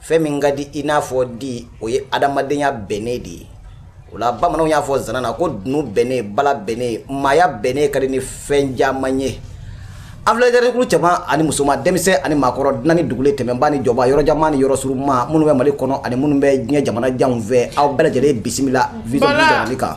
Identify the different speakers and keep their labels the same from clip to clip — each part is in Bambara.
Speaker 1: fɛn min ka di i n'a fɔ di o ye adamadenya bɛnnen de ye o la bamananw y'a fɔ zana na ko dunun bɛnnen bala bɛnnen maaya bɛnnen ka di ni fɛn caman ye an filɛ dɛrɛkulu cɛman ani musoman denmisɛn ani maakɔrɔ dunan ni dugulen tɛmɛnba ni jɔba yɔrɔ janma ni yɔrɔ surunma minnu bɛ mali kɔnɔ ani minnu bɛ diɲɛ jamana janw fɛ aw bɛɛ lajɛlen bisimila vision jamana kan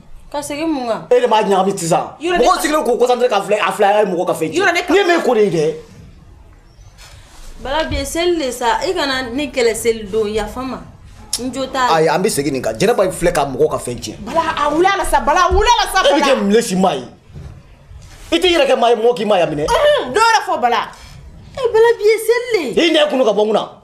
Speaker 1: ka segin
Speaker 2: mun kan e de b'a ɲagami
Speaker 1: sisan mɔgɔ sigilen k'u concentré ka filɛ a filɛ a ye mɔgɔ ka fɛn tiɲɛ ne ye min ko de ye dɛ bala
Speaker 2: bi ye seli de sa i kana ne kɛlɛ seli don yafa ma n jo t'a la
Speaker 1: ayi an bɛ segin nin kan jɛnɛba filɛ ka mɔgɔ ka fɛn tiɲɛ bala a wuli a la
Speaker 3: sa bala a wuli a la sa bala e bɛ kɛ
Speaker 1: mile si maa ye i t'i yɛrɛ kɛ maa ye mɔgɔ k'i maaya minɛ dɔ yɛrɛ fɔ bala
Speaker 3: e bala bi
Speaker 2: ye seli de ye i nɛ kunu ka bɔ n kunna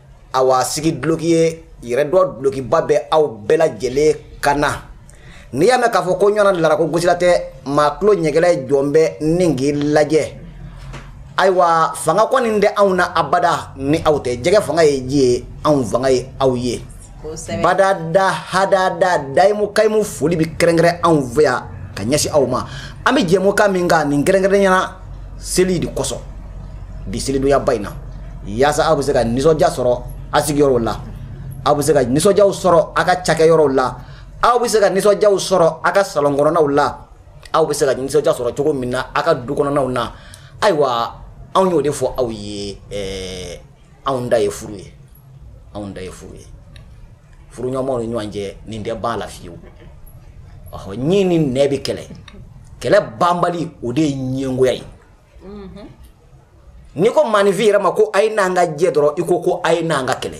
Speaker 1: awa sigi duloki ye yɛrɛdɔn dulokiba bɛ aw bɛɛ lajɛlen kan na n'i y'a mɛn k'a fɔ ko ɲɔgɔnna dilara ko gosila tɛ maa tulo ɲɛgɛla ye jɔn bɛ ni k'i lajɛ ayiwa fanga kɔni tɛ anw na abada ni aw tɛ jɛgɛ fanga ye ji ye anw fanga ye aw ye badada hadada dayimu kayimu foli bɛ kɛrɛnkɛrɛn anw fɛ yan ka ɲɛsin aw ma an bɛ jɛmukan min kan nin kɛrɛnkɛrɛnyana seli de kosɔn bi selidonyaba in na yaasa aw bɛ se ka nisɔndiya sɔrɔ a sigiyɔrɔw la aw bɛ se ka nisɔndiyaw sɔrɔ a ka cakɛyɔrɔw la aw bɛ se ka nisɔndiyaw sɔrɔ a ka salɔn kɔnɔnaw la aw bɛ se ka nisɔndiya sɔrɔ cogo min na a ka du kɔnɔnaw na ayiwa anw y'o de fɔ aw ye ɛɛ anw da ye furu ye anw da ye furu ye furuɲɔgɔnw ni ɲɔgɔn cɛ nin tɛ ban la fiyewu ɔhɔ ɲin ni nɛn bɛ kɛlɛ kɛlɛ banbali o de ye ɲɛngoya ye mhm. n'i ko maaninfin yɛrɛ ma ko a ye n'an ka jɛ dɔrɔn i ko ko a ye n'an ka kɛlɛ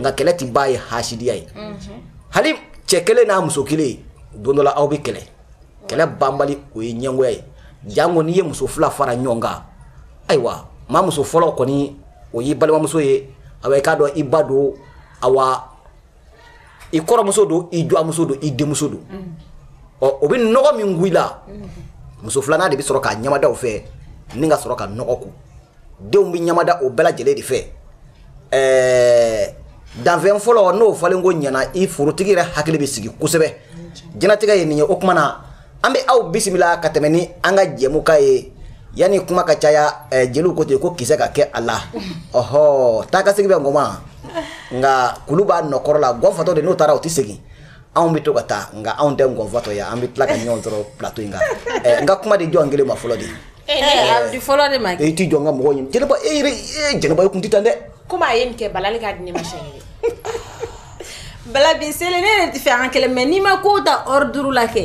Speaker 1: nka kɛlɛ tɛ ban ye hasidiya ye mhm. hali cɛ kelen n'a muso kelen don dɔ la aw bɛ kɛlɛ kɛlɛ banbali o ye ɲɛngoya ye jango n'i ye muso fila fara ɲɔgɔn kan ayiwa maa muso fɔlɔ kɔni o y'i balimamuso ye awa i k'a dɔn i ba don awa i kɔrɔmuso don i dɔgɔmuso don i denmuso don ɔ o bɛ nɔgɔ min kun i la muso filanan de bɛ sɔrɔ k'a ɲamada o fɛ ni ka sɔrɔ ka nɔgɔ kun denw bɛ ɲamada o bɛɛ lajɛlen de fɛ ɛɛ danfɛn fɔlɔ n'o falen ko ɲɛna i forotigi yɛrɛ hakili bɛ sigi kosɛbɛ jɛnatigɛ ye nin ye o tuma na an bɛ aw bisimila ka tɛmɛ ni an ka jɛmukan ye yanni kuma ka caya eh, jeliw ko ten ko kisɛ ka kɛ a la ɔhɔ taakasegin bɛ ngɔn ma nka kulu b'a nɔ kɔrɔ la ngɔnfatɔ de n'o taara o tɛ segin anw bɛ to ka taa nka anw tɛ ngɔnfatɔ ye an bɛ tila ka ɲɔgɔn sɔrɔ plateau in kan eh, n ka kuma di jɔn kelen ma fɔlɔ de eh, eh, di fɔlɔ
Speaker 2: de ma i t'i jɔ n ka mɔgɔ ɲini jɛnɛba
Speaker 1: e yɛrɛ jɛnɛba i kun tɛ tan dɛ komi a ye nin kɛ
Speaker 3: balali k'a di ne ma siɲɛ kelen
Speaker 2: bala bi seli ne yɛrɛ tɛ fɛ an ka kɛlɛ mais n'i ma kow ta ordre la kɛ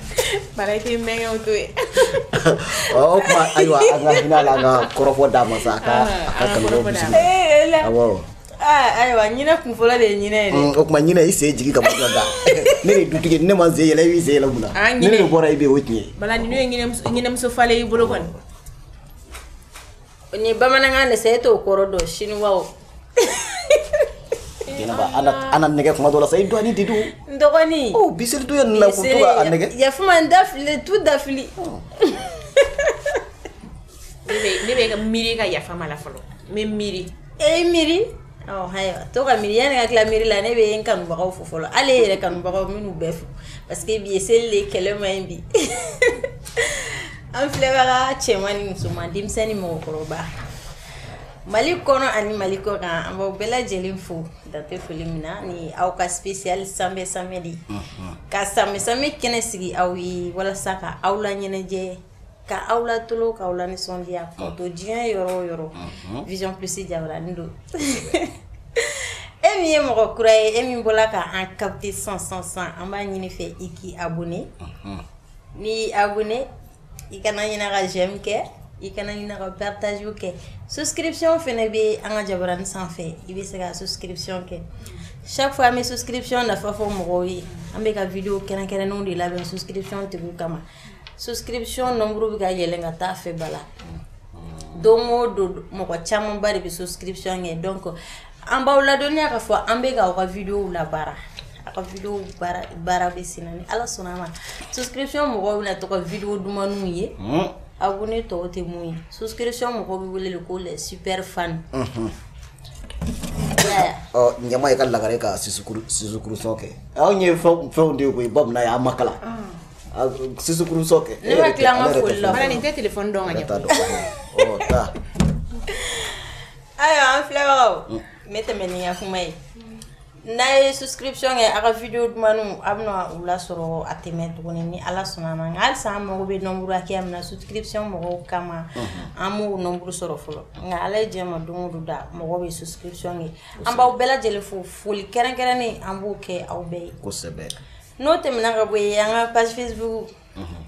Speaker 3: Bala tɛ mɛn to
Speaker 1: yen o tuma ayiwa an ka hinɛ a la an ka kɔrɔfɔ d'a ma sa a ka kanubaw bisimila
Speaker 2: ayiwa ɲinɛ kun fɔlɔ de ye o tuma ɲinɛ i sen jigin
Speaker 1: ka da ne de dutigi ne ma sen yɛlɛ i b'i sen yɛlɛ mun na ne de bɔra i bɛ o tiɲɛ bala
Speaker 3: ɲinɛmuso falen y'i bolo kɔni
Speaker 2: ni bamanankan de e t'o kɔrɔ dɔn
Speaker 1: siniwa ala nɛgɛ kuma dɔ la sa i dɔn di don dɔgɔnin
Speaker 2: bi to yen la
Speaker 1: yafa n ma dafili
Speaker 2: tu dafili
Speaker 3: ne bɛ ka miiri ka yafama la fɔlɔ n bɛ miiri e miiri
Speaker 2: To ka miiri yanni ka tila miiri la ne bɛ n kanubagaw fo fɔlɔ hali e yɛrɛ kanubagaw minnu bɛɛ fo parce que bi ye seli de kɛlɛ man ɲi bi an filɛbaga cɛman ni musoman denmisɛnnin ni mɔgɔkɔrɔba mali kɔnɔ ani mali kɔ kan an b'aw bɛɛ lajɛlen fo dan tɛ foli min na ni aw ka spécial sanbɛ sanbɛ de ka sanbɛ kɛnɛ sigi aw ye walasa ka aw la ɲɛnajɛ Ka aw la tulon k'aw la nisɔndiya ka to diɲɛ yɔrɔ o yɔrɔ Vision Plus jabarani don e min ye mɔgɔ kura ye e min bɔra k' an capter sisan an b'a ɲini i fɛ i k'i abonné n'i abonné i kana ɲinɛ ka j'aime kɛ i kana ɲinɛ ka partage kɛ souscription fana bɛ an ka jabarani sanfɛ i bɛ se ka souscription kɛ chaque fois an bɛ souscription nafa fɔ mɔgɔw ye an bɛ ka video kɛrɛnkɛrɛnnenw de labɛn souscription tigiw kama souscription nombre bɛ ka yɛlɛn ka taa a fɛ bala don o don mɔgɔ camanba de bɛ souscription kɛ donc an b'aw ladɔnniya k'a fɔ an bɛ ka aw ka videow labaara a ka videow baara baara bɛ senna ni ala sɔnna a ma souscription mɔgɔw bɛna to ka video dumanniw ye abonné tɔw tɛ min ye souscription mɔgɔw bɛ wele de ko les super
Speaker 1: fan ɲɛma ye ka lagare ka sisukuru sisukurusɔn kɛ anw ye fɛnw de ye koyi bamananya an ma kalan Sisukurusɔn kɛ ne ma tila foli
Speaker 2: la nin tɛ téléphone dɔn
Speaker 3: ka ɲɛ
Speaker 1: taa
Speaker 2: ayiwa an filɛbagaw ne bɛ tɛmɛ ni n ka kuma ye n'a ye souscription kɛ aw ka video dumanniw a bɛna u lasɔrɔ a tɛ mɛn tuguni ni ala sɔnna a ma nka halisa an mago bɛ nombre hakɛ min na souscription mɔgɔw kama an m'o nombre sɔrɔ fɔlɔ nka ala ye diɲɛ ma don o don da mɔgɔw bɛ souscription kɛ an b'aw bɛɛ lajɛlen fo foli kɛrɛnkɛrɛnnen an b'o kɛ aw bɛɛ ye kosɛbɛ
Speaker 1: n'o tɛmɛna
Speaker 2: ka bɔ yen an ka page Facebook mhm.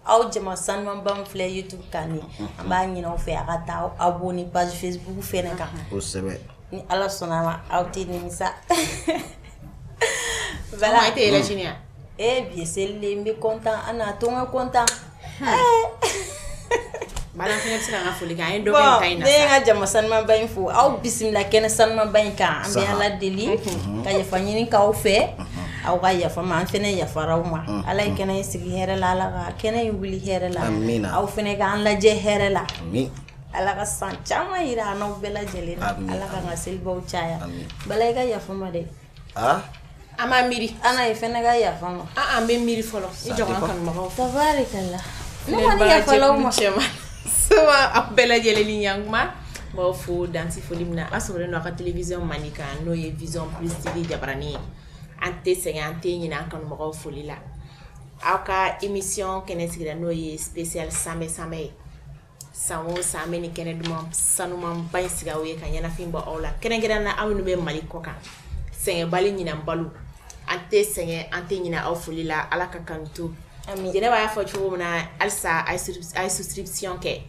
Speaker 2: aw jama sanumanba min filɛ youtube kan ni mhm. an b'a ɲin'aw fɛ a ka taa aw abonné page facebook fɛnɛ kan kosɛbɛ
Speaker 1: ni ala
Speaker 2: sɔnna a ma aw tɛ
Speaker 3: nimisa bala e tɛ yɛlɛ sini yan ee bi ye seli
Speaker 2: de ye n bɛ kɔntan a na to n ka kɔntan
Speaker 3: Jama
Speaker 2: sanumanba in fo aw bisimila kɛnɛ sanumanba in kan an bɛ ala deli ka yafa ɲini k'aw fɛ aw ka yafa n ma an fɛnɛ yafara aw ma ala ye kɛnɛ in sigi hɛrɛ la ala ka kɛnɛ in wuli hɛrɛ la aw fɛnɛ ka an lajɛ hɛrɛ la ala ka san caman yira an n'aw bɛɛ lajɛlen na ala ka an ka selibaw caya bala i ka yafa n ma dɛ
Speaker 3: An b'a miiri ana e fɛnɛ ka
Speaker 2: yafa n ma an bɛ miiri
Speaker 3: fɔlɔ
Speaker 2: i jɔ
Speaker 3: aw bɛɛ lajɛlen ni yankuma n b'aw fo dansɛ foli min na a sɔrɔlen aw ka télévision mandi kan n'o ye vision plus tv jabaranin ye an tɛ sɛgɛn an tɛ ɲinɛ an kanumɔgɔ foli la aw ka émission kɛnɛ sigira n'o ye spécial sanbɛ sanbɛ ye san o san an bɛ nin kɛnɛ duman sanumanba in sigi aw ye ka ɲɛnafin bɔ aw la kɛrɛnkɛrɛnnen na aw minnu bɛ mali kɔ kan sɛgɛnbali ɲinanbaliw an tɛ sɛgɛn an tɛ ɲinan aw foli la ala ka kanu to jɛnɛba y'a fɔ cogo min na halisa a ye souscription kɛ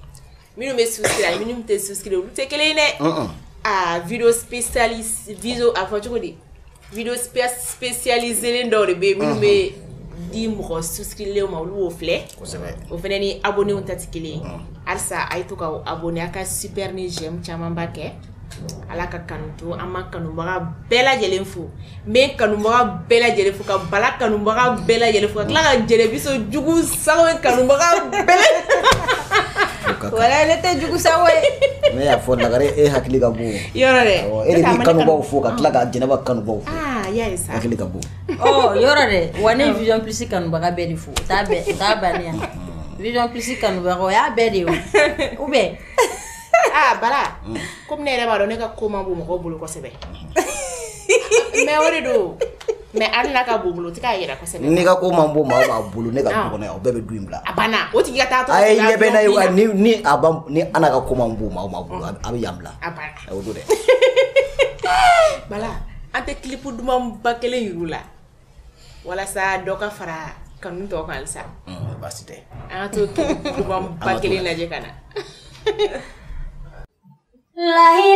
Speaker 3: minnu bɛ souscrire ani minnu tɛ souscrire olu tɛ kelen ye dɛ aa vidéo spécialisé vidéo a fɔ cogo di vidéo spécialisé dɔw de bɛ minnu bɛ di mɔgɔ souscrilenw ma olu b'o filɛ o fɛnɛ ni abonnés ta tɛ kelen ye halisa a ye to k'aw abonné a ka super ni j'aime camanba kɛ ala ka kanu to an ma kanubaga bɛɛ lajɛlen fo n bɛ kanubaga bɛɛ lajɛlen fo ka bala kanubaga bɛɛ lajɛlen fo ka tila ka jɛnɛbiso jugu sago kanubaga
Speaker 2: bɛɛ wala ne tɛ jugu sago ye ne y'a fɔ lagare
Speaker 1: e hakili ka bon yɔrɔ dɛ e de b'i
Speaker 3: kanubaw
Speaker 1: fo ka tila ka jɛnɛba kanubaw fo ah, hakili ka
Speaker 3: bon oh,
Speaker 1: yɔrɔ dɛ
Speaker 2: wa ne vision plus kanubaga bɛɛ de fo o t'a bɛɛ o t'a bannen yan vision plus kanubaga o y'a bɛɛ de ye o ou bien ah bala
Speaker 3: komi ne yɛrɛ b'a dɔn ne ka ko man bon mɔgɔw bolo kosɛbɛ mais o de don Mais hali n'a ka bon bolo o tɛ k'a yira kosɛbɛ ne ka ko man bon
Speaker 1: maa o maa bolo ne ka du kɔnɔ yan o bɛɛ bɛ du in bila a banna o tigi ka
Speaker 3: taa a ye ɲɛ bɛ
Speaker 1: ni ni ana ka ko man bon maa o maa bolo a bɛ yan bila a banna o don dɛ bala
Speaker 3: an tɛ clip dumanba kelen yir'u la walasa dɔ ka fara kanu tɔ kan halisa baasi
Speaker 1: tɛ an ka
Speaker 3: taa clip
Speaker 2: dumanba kelen lajɛ ka na layi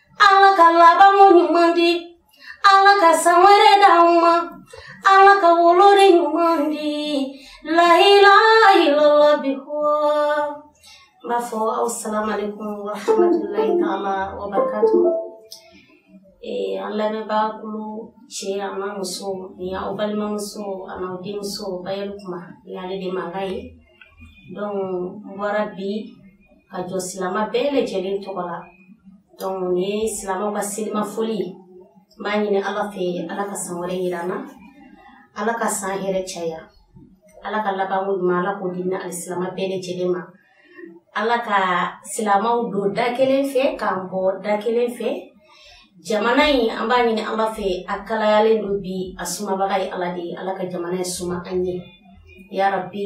Speaker 4: ala ka labanko ɲuman di ala ka san wɛrɛ d'an ma ala ka woloden ɲuman di lahilahilalabihɔ n b'a fɔ asalamalekun warahmatulahi taala wabarakatu ee an lamɛnbaa kulu cɛ an'a muso ni aw balimamuso ani aw denmuso bayɛli kuma ni ale de mankan ye donc n bɔra bi ka jɔ silama bɛɛ lajɛlen tɔgɔ la donc nin ye silamaw ka selima foli ye n b'a ɲini ala fɛ ala ka san wɛrɛ yira an na ala ka san hɛrɛ caya ala ka labanko ɲuman ala k'o di an ni alisilama bɛɛ lajɛlen ma ala ka silamaw don da kelen fɛ k'an bɔ da kelen fɛ jamana in an b'a ɲini ala fɛ a kalayalen don bi a sumabaga ye ala de ye ala ka jamana in suma an ye yarabi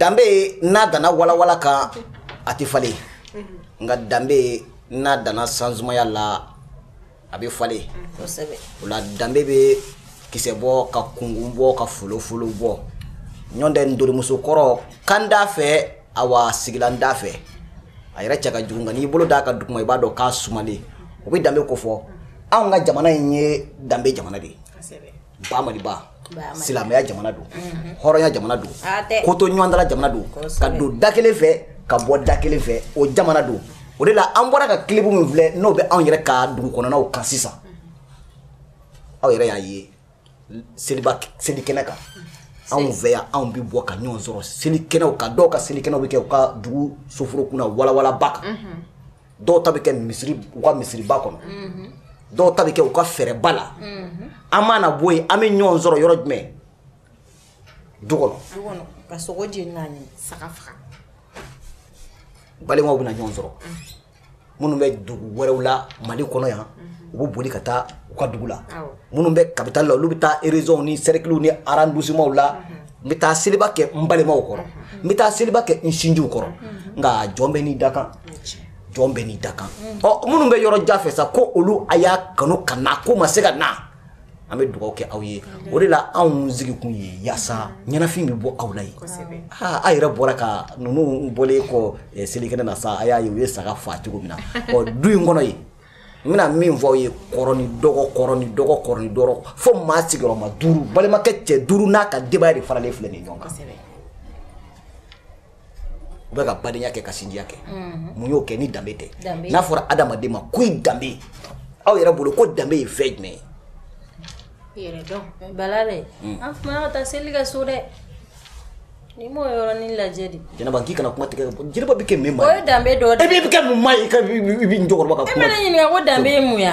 Speaker 1: danbe n'a danna walawala kan a tɛ falen nka danbe n'a danna sansumaya la a bɛ falen o la danbe bɛ kisɛ bɔ ka kunkun bɔ ka folofolo bɔ ɲɔntɛ ntori musokɔrɔ kanda fɛ awa sigila n da fɛ a yɛrɛ cɛ ka jugu nka n'i bolo d'a kan duguma i b'a dɔn k'a sumalen o bɛ danbe ko fɔ anw ka jamana in ye danbe jamana de ye ba maliba silamɛya jamana don mhm. hɔrɔnya jamana don kotoɲɔgɔntala jamana don ka don da kelen fɛ ka bɔ da kelen fɛ o jamana don o de la an bɔra ka kilibu min filɛ n'o bɛ anw yɛrɛ ka dugu kɔnɔnaw kan sisan aw yɛrɛ y'a ye seliba seli kɛnɛ kan anw fɛ yan anw bɛ bɔ ka ɲɔgɔn sɔrɔ seli kɛnɛw kan dɔw ka seli kɛnɛw bɛ kɛ u ka dugu soforo kunna walawalaba kan mhm. dɔw ta bɛ kɛ misiri u ka misiriba kɔnɔ mhm. dɔw ta bɛ kɛ u ka fɛɛrɛba la mhm. an mana bɔ yen an bɛ ɲɔgɔn sɔrɔ yɔrɔ jumɛn du kɔnɔ ka sogo
Speaker 2: jeni k'a ɲimi saga faga
Speaker 1: balimaw bɛna ɲɔgɔn sɔrɔ minnu bɛ dugu wɛrɛw la mali kɔnɔ yan u bɛ boli ka taa u ka dugu la minnu bɛ kapitali la olu bɛ taa erezɔnw ni sɛrikiliw ni arɔndisimanw la n bɛ taa seliba kɛ n balimaw kɔrɔ n bɛ taa seliba kɛ n sinjiw kɔrɔ nka jɔn bɛ n'i da kan jɔn bɛ n'i da kan ɔ minnu bɛ yɔrɔ jan fɛ sa ko olu a y'a kanu ka na ko ma se ka na an bɛ dugawu kɛ aw ye o de la anw sigi kun ye yaasa ɲɛnafin bɛ bɔ aw la yen aaa aw yɛrɛ bɔra ka ninnu bɔlen kɔ selikɛnɛ na sa a y'a ye u ye saga faa cogo min na ɔ du in kɔnɔ yen n bɛna min fɔ aw ye kɔrɔ ni dɔgɔ kɔrɔ ni dɔgɔ kɔrɔ ni dɔgɔ fo maa sigiyɔrɔma duuru balimakɛ cɛ duuru n'a ka denbaya de faralen filɛ nin ɲɔgɔn kan u bɛ ka badenya kɛ ka sinjiya kɛ mhm. mun y'o kɛ ni danbe tɛ n'a fɔra adamaden ma ko i danbe aw yɛrɛ bolo ko danbe ye fɛn jumɛn ye yɛrɛ dɔn bala
Speaker 2: dɛ hmm. an fana ka taa seli kɛ so dɛ ni m'o yɔrɔnin lajɛ de jɛnɛba k'i kana kuma
Speaker 1: tigɛ jɛnɛba bɛ kɛ min ma o ye danbe dɔ de ye e bɛ
Speaker 2: kɛ mun ma ye
Speaker 1: i bɛ jɔkɔrɔba ka kuma e bɛ ne ɲininka ko danbe
Speaker 2: ye mun ye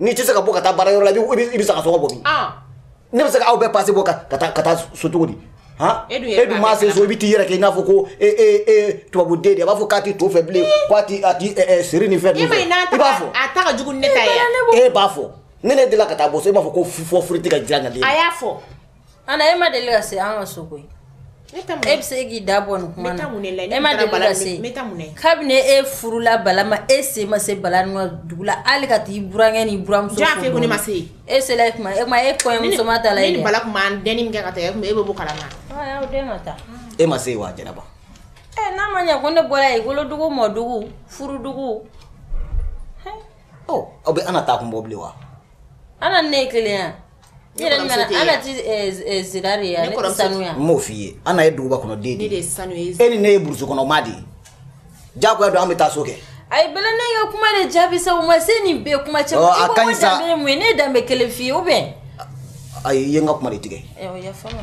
Speaker 1: n'i tɛ se ka bɔ ka taa baara yɔrɔ la i bɛ se ka sɔgɔ bɔ min ne bɛ se ka aw bɛɛ pase bɔ ka taa so cogo di e dun maa se so i bɛ t'i yɛrɛ kɛ i n'a fɔ ko tubabuden de a b'a fɔ k'a tɛ to fɛ bilen k'a tɛ seri ni fɛn i b'a fɔ a ta ka jugu ni ne ta
Speaker 3: ye e b'a fɔ ne
Speaker 1: ne delila ka taa bɔ so e b'a fɔ ko fɔ furu tɛ ka diya ka di a y'a fɔ
Speaker 3: Ana e ma
Speaker 2: deli ka se an ka so koyi e bɛ se k'i da bɔ nin kuma na e ma kabini e furula bala ma e se ma se bala ka dugu la hali ka taa i burankɛ ni buramuso
Speaker 3: e
Speaker 2: e kɔɲɔ e ma se wa
Speaker 1: jɛnɛba n'a
Speaker 2: ma ɲɛ ko ne bɔra i wolodugu mɔdugu furudugu
Speaker 1: aw bɛ ana taa kun bɔ bilen wa ana ne
Speaker 2: ye kelen yan i yɛrɛ ɲuman na ana ti ɛ ɛ zira de ye a ne kɔrɔmuso ti sanu ye a n m'o f'i ye ana
Speaker 1: ye duguba kɔnɔ den de ye e ni
Speaker 3: ne ye burusi kɔnɔ maa
Speaker 1: de ye diyagoya don an bɛ taa so kɛ ayi bala ne ka
Speaker 2: kuma de jaabi sa o ma se nin bɛɛ kuma caman Ɔ, a ka ɲi sa. danbe ye mun ye ne ye danbe kelen f'i ye ou bien ayi i ye
Speaker 1: n ka kuma de tigɛ Ɛ, o yafa n ma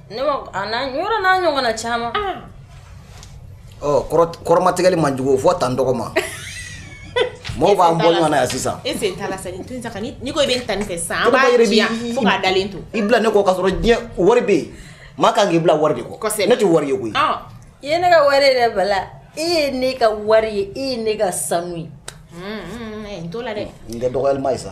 Speaker 3: Ne ma
Speaker 2: a na yɔrɔ n'a ɲɔgɔnna
Speaker 1: caman kɔrɔmatigɛli man jugu fɔ tan n dɔgɔ ma mɔgɔw b'an bɔ ɲɔgɔn na yan sisan
Speaker 3: e sen t'a la sa ko i bɛ tan ni fɛ sisan da to i bila ne kɔ k'a sɔrɔ
Speaker 1: diɲɛ wari bɛ yen maa ka kan k'i bila wari de kɔ ne tɛ wari ye koyi i ye ne
Speaker 2: ka wari yɛrɛ bala e ye ne ka wari ye e ye ne ka sanu ye n
Speaker 3: t'o la dɛ n tɛ dɔgɔlima ye sa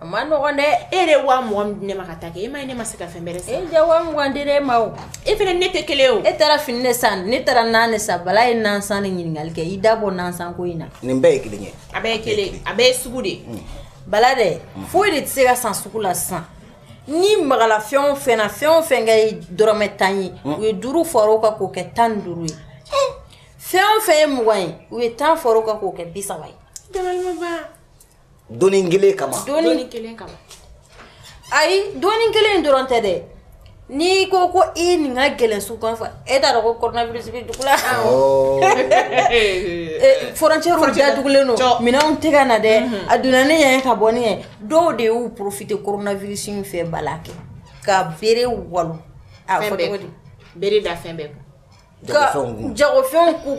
Speaker 3: A
Speaker 2: ma nɔgɔn dɛ e de wa mugan
Speaker 3: di ne ma ka taa kɛ e ma ne ma se ka fɛn bɛrɛ san e ja wa mugan di
Speaker 2: e ma e fana ne tɛ
Speaker 3: kelen o e taara fini de san
Speaker 2: ne taara na de san bala ye nansan ni ɲininkali kɛ i da bɔ
Speaker 1: nansan
Speaker 3: ko
Speaker 2: in na
Speaker 1: nin bɛɛ
Speaker 2: ye
Speaker 3: kelen
Speaker 2: ye
Speaker 3: a bɛɛ kelen
Speaker 1: a bɛ
Speaker 3: ye
Speaker 2: sugu de bala dɛ foyi de tɛ se ka san sugu la sisan ni mala fɛn o fɛn ye dɔrɔmɛ tan ye u ye duuru fara o kan k'o kɛ tan ni duuru ye fɛn o fɛn ye mugan ye u ye tan fara o kan k'o kɛ bi saba ye doni
Speaker 1: kelen kama doni kelen kama
Speaker 2: ayi doni kelen dɔrɔn tɛ dɛ n'i ko ko i nin ka gɛlɛn su kan fɔ e t'a dɔn ko coronavirus bɛ dugu la frontière datugulen don minɛnw tɛ ka na dɛ mhm. a donna ne ɲɛ ka bɔ ne ɲɛ dɔw de y'u profiter coronavirus in fɛ bala kɛ ka bere walo a fɔ cogo di bere da fɛn bɛɛ kun ka jagofɛnw k'u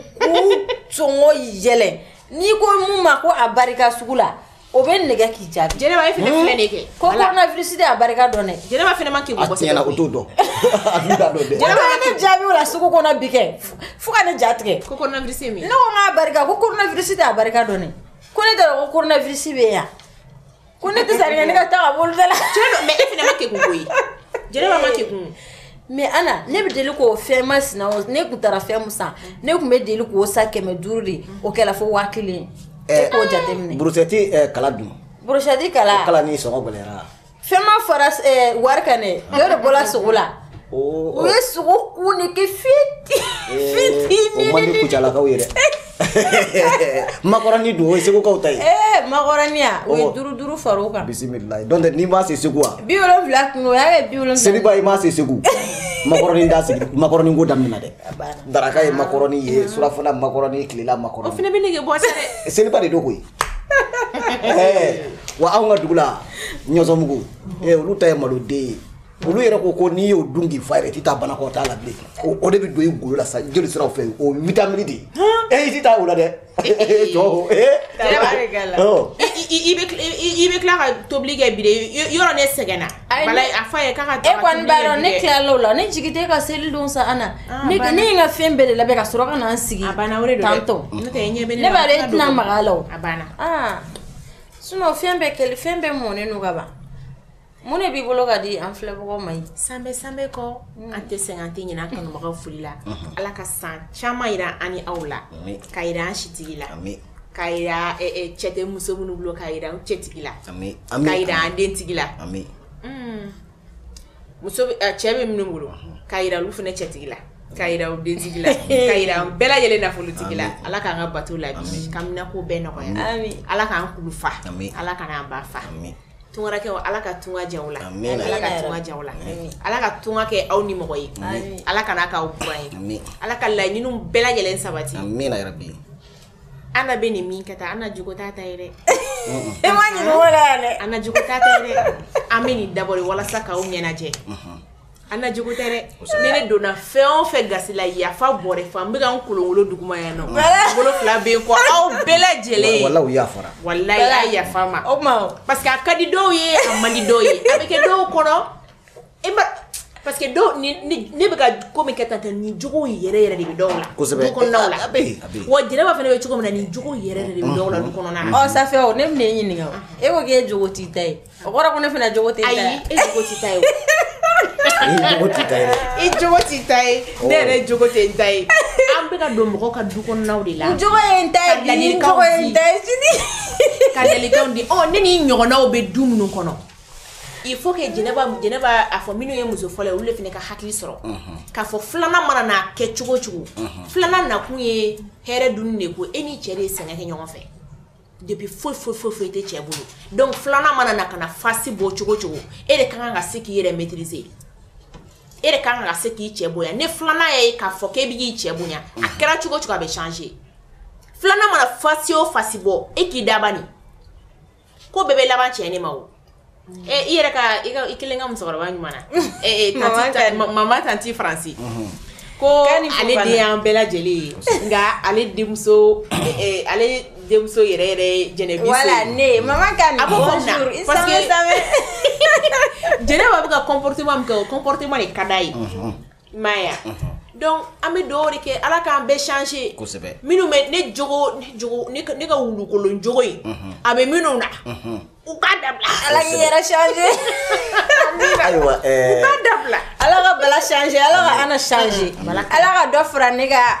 Speaker 2: sɔngɔ yɛlɛ n'i ko mun ma ko a barika sugu la o bɛ nɛgɛ k'i jaabi jɛnɛba e fana hmm? filɛ de
Speaker 3: kɛ ko coronavirus de
Speaker 2: a barika dɔn dɛ jɛnɛba fana ma k'i bɔ
Speaker 3: sɛbɛn o t'o
Speaker 1: dɔn a t'u da dɔn dɛ jɛnɛba ye ne jaabi o
Speaker 2: la sugu kɔnɔ bi kɛ fo ka ne ja tigɛ ko coronavirus ye min ye ne ko
Speaker 3: n k'a barika ko
Speaker 2: coronavirus de a barika dɔn dɛ ko ne t'a dɔn ko coronavirus bɛ yan ko ne tɛ sariya ne ka taa ka bolo da la cɛ don mais e fana ma
Speaker 3: kegun koyi jɛnɛba ma kegun mais ana
Speaker 2: ne bɛ deli k'o fɛn masina o ne kun taara fɛn mu san ne kun bɛ deli k'o san kɛmɛ duuru de o kɛla fo waa kelen e k'o jateminɛ burusɛti
Speaker 1: kala dun burusɛti kala kala
Speaker 2: ni sɔngɔ gɛlɛyara
Speaker 1: fɛn ma fara
Speaker 2: wari kan dɛ dɔ de bɔla sogo la o ye sogo kun de kɛ
Speaker 1: fiti fitini o
Speaker 2: man di
Speaker 1: kucalakaw ye dɛ makɔrɔni dun o ye segukaw ta ye makɔrɔni ya
Speaker 2: o ye duuru duuru fara o kan bisimila donc n'i ma
Speaker 1: se segu wa bi wolonwula kun o y'a kɛ
Speaker 2: bi wolonwula seliba i ma se
Speaker 1: segu makɔrɔni da sigi makɔrɔni ko daminɛ dɛ daraka ye makɔrɔni ye mm. surafana makɔrɔni tilela makɔrɔni o fana bɛ
Speaker 3: nege bɔ
Speaker 1: sa
Speaker 3: dɛ seliba de don koyi
Speaker 1: wa anw ka dugu la ɲɔsɔnmugu olu ta ye maloden ye olu yɛrɛ ko ko n'i y'o dun k'i fa yɛrɛ t'i taa banakɔtaa la bilen o de bɛ don i golo la sa jolisiraw fɛ o vitamini de ye i t'i taa o la dɛ jɔ
Speaker 3: i bɛ tila ka tobili kɛ bi yɔrɔ ne sɛgɛnna a fɔ a ye k'a ka e kɔni b'a dɔn
Speaker 2: ne tilala o la ne jigi tɛ ka seli don sa Ana ne ye n ka fɛn bɛɛ de labɛn ka sɔrɔ ka na n sigi tantɔ ne b'a dɔn e tɛna maga a la o sinon fɛn bɛɛ kɛlen fɛn bɛɛ mɔnen don ka ban Mun de b'i bolo ka di an filɛbagaw ma ye sanbɛɛ sanbɛɛ
Speaker 3: kɔɔ unn an tɛ sɛgɛn an tɛ ɲinɛ an kanubagaw foli la unhun Ala ka san caman yira an ni aw la aami k'a yira an sitigi la aami k'a yiraa ɛ ɛ cɛ te muso minnu bolo k'a yira u cɛtigi la aami aami k'a yira an dentigi la aami unn muso be ɛ cɛ be minnu bolo unhun k'a yira olu fɛnɛ cɛtigi la k'a yira u dentigi la k'a yira an bɛɛ lajɛlen nafolotigi la Ala k'an ka bato labi k'an haminako bɛɛ nɔgɔya aami Ala k'an kulu fa aami Ala k'an ba fa aami tunkarankɛw ala ka tunka diya aw la ala ka tunka diya aw la ala ka tunka kɛ aw nimɔgɔ ye ala kana k'aw buran ye ala ka laɲini bɛɛ lajɛlen sabati Ana bɛ nin min kɛ tan Ana jogo t'a ta ye dɛ e
Speaker 2: ma ɲinɛ o la dɛ Ana jogo t'a ta ye
Speaker 3: dɛ an bɛ nin dabɔ de walasa k'aw ɲɛnajɛ Ana jogo tɛ dɛ ni ne donna fɛn o fɛn gasi la yafa bɔrɛ fa n bɛka n kolonkolon duguma yan nɔ bolo fila bɛ n kɔ aw bɛɛ lajɛlen
Speaker 1: walahi a yafa
Speaker 3: ma o parce que a ka di dɔw ye a man di dɔw ye a bɛ kɛ dɔw kɔnɔ e parce que ne bɛ ko min kɛ tan nin jogo yɛrɛ yɛrɛ de bɛ dɔw la wa jɛnɛba fana bɛ cogo min na nin jogo yɛrɛ de bɛ dɔw la du kɔnɔ Safi o ne bɛna e
Speaker 2: ɲininka e ko e jogo t'i ta ye O kɔrɔ ko ne fana jogo tɛ n ta ye. Ayi e jogo t'i ta ye o.
Speaker 3: I jogo t'i ta ye dɛ. I jogo t'i ta ye. Awɔ. Ne yɛrɛ jogo tɛ n ta ye. An bɛ ka don mɔgɔw ka du kɔnɔnaw de la. N jogo ye n ta ye bi,
Speaker 2: n jogo ye n ta ye sini. Ka ladilikanw
Speaker 3: di. Ɔ ne ni n ɲɔgɔnnaw bɛ du minnu kɔnɔ, il faut que Jɛnɛba Jɛnɛba a fɔ minnu ye muso fɔlɔ ye olu de fana ka hakili sɔrɔ. Unhun. K'a fɔ filanan mana na kɛ cogo o cogo. Unhun. Filanan nakun ye hɛrɛ dunni de ye ko e n'i cɛ de ye sɛgɛn kɛ ɲɔgɔn fɛ. depuis foyi foyi tɛ cɛ bolo donc filanan mana na ka na fasi bɔ cogo cogo e de ka kan ka se k'i yɛrɛ maîtriser e de ka kan ka se k'i cɛ bonya ne filanan ye k'a fɔ k' e bɛ k'i cɛ bonya a kɛra cogo cogo a bɛ changer filanan mana fasi o fasi bɔ e k'i dabali ko bɛɛ bɛ laban cɛ ne ma i yɛrɛ ka i kelen ka musokɔrɔba ɲuman mama tanti faransi ko ale den y'an bɛɛ lajɛlen ye nka ale denmuso denmuso yɛrɛ yɛrɛ jɛnɛbiso ne jɛnɛba bɛ ka comportement min kɛ o comportement de ka d'a ye M'a ye donc an bɛ dugawu de kɛ ala k'an bɛɛ changer kosɛbɛ minnu
Speaker 1: bɛ
Speaker 3: ne ne ka wulukolon jogo in a bɛ minnu na u k'a dabila ala k'i yɛrɛ
Speaker 1: changer
Speaker 3: ayiwa dabila ala ka bala
Speaker 2: changer ala ka ana changer ala ka dɔ fara ne ka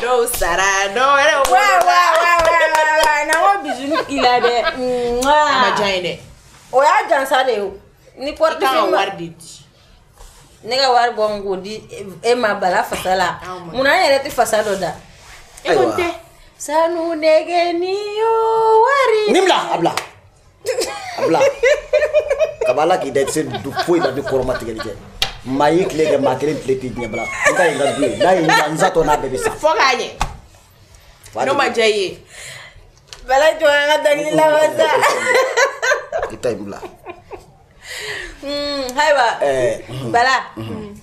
Speaker 3: dɔw sara dɔw wɛrɛ
Speaker 2: wolola na ko bisini k'i la dɛ a ma diya
Speaker 3: ye dɛ o y'a jansa
Speaker 2: de ye o ni i kan ka porte-feuille wari de
Speaker 3: di ne
Speaker 2: ka wari bɔ n k'o di e ma bala fasa la mun na an yɛrɛ tɛ fasa dɔ da e ko n tɛ
Speaker 3: sanu
Speaker 2: nɛgɛni yo wari ni bila
Speaker 1: a bila a bila kaba ala k'i da sen don foyi la ni kɔrɔmatigɛli kɛ maa y'i tile kɛ maa kelen tile tɛ diɲɛ bila n ka ye n ka du ye n'a ye n sa tɔ n'a bɛɛ bɛ sa fo k'a
Speaker 3: ɲɛ n'o ma diya i ye
Speaker 2: bala jɔ an ka dɔnkili laban sa
Speaker 1: i ta in bila
Speaker 2: Hmm, ayiwa eh, hmm. bala hmm.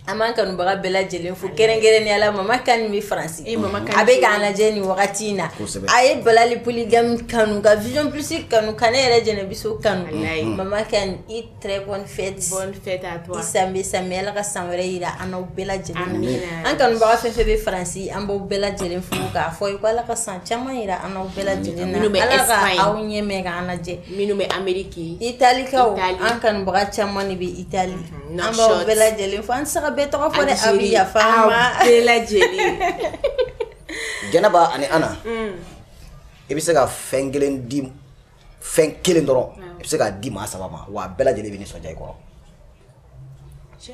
Speaker 2: an b'an kanubaga bɛɛ lajɛlen fo kɛrɛnkɛrɛnnenya la mama kani bɛ faransi eh, a bɛ k'an lajɛ nin wagati in na a ye bala le polygame kanu ka vision plus kanu ka ne yɛrɛ jɛnɛbiso kanu mama kani très bonne fête bonne fête à toi
Speaker 3: i sanbɛɛ sanbɛɛ ala
Speaker 2: ka san wɛrɛ yira an n'aw bɛɛ lajɛlen na an kanubaga fɛn fɛn bɛ faransi an b'aw bɛɛ lajɛlen fo k'a fɔ i ko ala ka san caman yira an n'aw bɛɛ lajɛlen na ala ka aw ɲɛ mɛn k'an lajɛ Minnu bɛ
Speaker 3: Ameriki, italikaw,
Speaker 2: Itali, an kanubaga caman de bɛ Itali, unhun, an b'aw bɛɛ lajɛlen fo, an tɛ se ka bɛɛ tɔgɔ fɔ dɛ, Algérie, aw bɛ yafa an ma, aw bɛɛ lajɛlen,
Speaker 1: Jɛnɛba ani Ana, un, i bɛ se ka fɛn kelen di fɛn kelen dɔrɔn, awɔ, i bɛ se k'a di maa saba ma wa a bɛɛ lajɛlen bɛ nisɔndiya i kɔrɔ, cɛ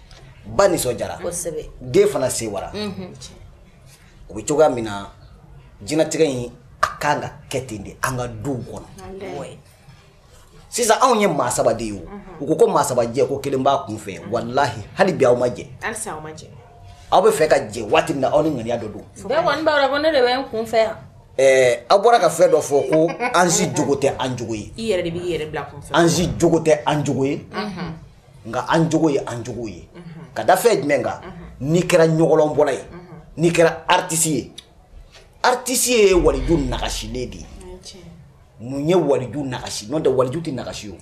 Speaker 1: ba nisɔndiyara den
Speaker 2: fana sewara
Speaker 1: o bɛ cogoya min na jinɛtigɛ in a ka kan ka kɛ ten de an ka du kɔnɔ sisan anw ye maa saba de ye o u ko ko maa saba jɛ ko kelen b'a kun fɛ walahi hali bi aw ma
Speaker 3: jɛ aw bɛ fɛ
Speaker 1: ka jɛ waati min na aw ni ŋaniya dɔ
Speaker 2: don aw bɔra ka
Speaker 1: fɛn dɔ fɔ ko an si jogo tɛ an jogo ye
Speaker 3: an si jogo tɛ an
Speaker 1: jogo ye nka an jogo ye an jogo ye ka da fɛn jumɛn kan n'i kɛra ɲɔgɔlɔnbɔla ye n'i kɛra artisi ye artisi ye waliju nagasilen de ye mun ye waliju nagasi n'o tɛ waliju tɛ nagasi o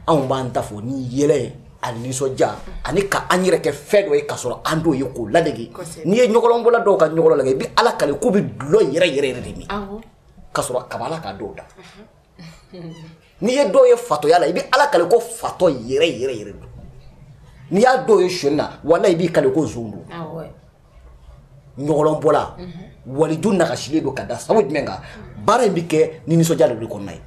Speaker 1: anw b'an ta fɔ ni yɛlɛ ye ani nisɔndiya ani ka an yɛrɛ kɛ fɛn dɔ ye k'a sɔrɔ an t'o ye k'o ladege n'i ye ɲɔgɔlɔnbɔla dɔw ka ɲɔgɔlɔn lajɛ i bɛ ala kale k'u bɛ dulɔ yɛrɛ yɛrɛ yɛrɛ de min k'a sɔrɔ kabi ala ka dɔw da n'i ye dɔw ye fatɔya la i bɛ ala kale ko fatɔ yɛrɛ yɛrɛ yɛrɛ don n'i y'a dɔw ye sonyɛni na walahi i b'i kale ko zon don ɲɔgɔlɔnbɔla mhm. waliju nagasilen don ka da sabu jumɛn kan baara in bɛ kɛ ni nisɔndiya de kɔnɔna ye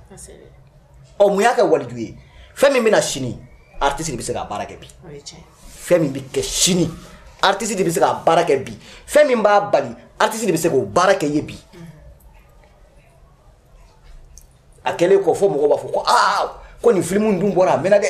Speaker 1: ɔ mun y'a kɛ waliju ye fɛn min bɛ na sini artiste de bɛ se k'a baara kɛ bi fɛn min bɛ kɛ sini artiste de bɛ se k'a baara kɛ bi fɛn min b'a bali artiste de bɛ se k'o baara kɛ ye bi a kɛlen kɔ fɔ mɔgɔ b'a fɔ ko aa ko nin filimu dun bɔra a mɛnna dɛ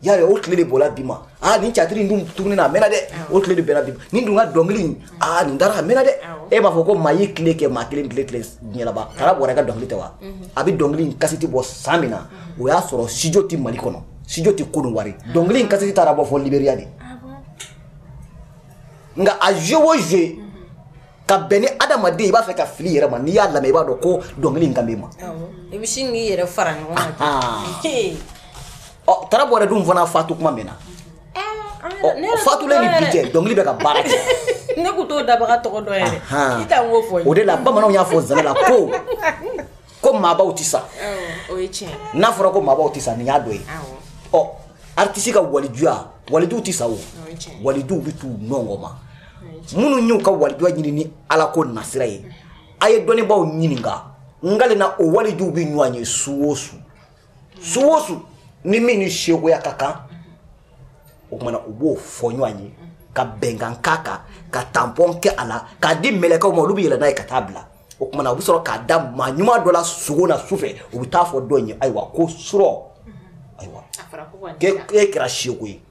Speaker 1: y'a ye o tile de bɔra bi ma aa nin tiyatiri in dun tuguni na a mɛnna dɛ o tile de bɛnna bi ma nin dun ka dɔnkili in aa nin dara a mɛnna dɛ e b'a fɔ ko maa y'i tile kɛ maa kelen tile tɛ diɲɛ laban tara bɔrɛ ka dɔnkili tɛ wa a bɛ dɔnkili in kasiti bɔ san min na o y'a sɔrɔ studio tɛ mali kɔnɔ studio tɛ kɔdiwari dɔnkili in kasiti taara bɔ fɔ liberiya de nka a joué o joué ka bɛn ni adamaden i b'a fɛ ka fili yɛrɛ ma n'i y'a lamɛn i b'a dɔn ko dɔnkili in kan b'e ma i bɛ sin k'i
Speaker 2: yɛrɛ fara ɲɔgɔn kan ah, ah. ɔ
Speaker 1: tara bɔrɛ dun fana fatu kuma min na eh, fatulen ni bi cɛ dɔnkili bɛ ka baara kɛ ne ko
Speaker 2: t'o dabaga tɔgɔ dɔn yɛrɛ i t'an k'o fɔ o de la bamananw y'a fɔ
Speaker 1: zana la ko ko maabaw tɛ sa
Speaker 3: n'a fɔra ko maabaw tɛ sa
Speaker 1: nin y'a dɔ ye ɔ aritisi ka walijuya walijuw tɛ sa o walijuw bɛ t'u nɔngɔ ma minnu y'u ka walijuya ɲini ni ala ko nasira ye a ye dɔnnibaaw ɲininka n kale na o walijuw bɛ ɲɔgɔn ye su o su su o su ni min ni sekoya ka kan o kumana u b'o fɔ ɲɔgɔn ye ka bɛnkan k'a kan ka tanpɔn kɛ a la k'a di mɛlɛkɛw ma olu bɛ yɛlɛ n'a ye ka taa a bila o kumana u bɛ sɔrɔ k'a da maa ɲuman dɔ la sugo na su fɛ u bɛ taa a fɔ dɔ in ye ayiwa ko surɔ ayiwa k'e kɛra seko ye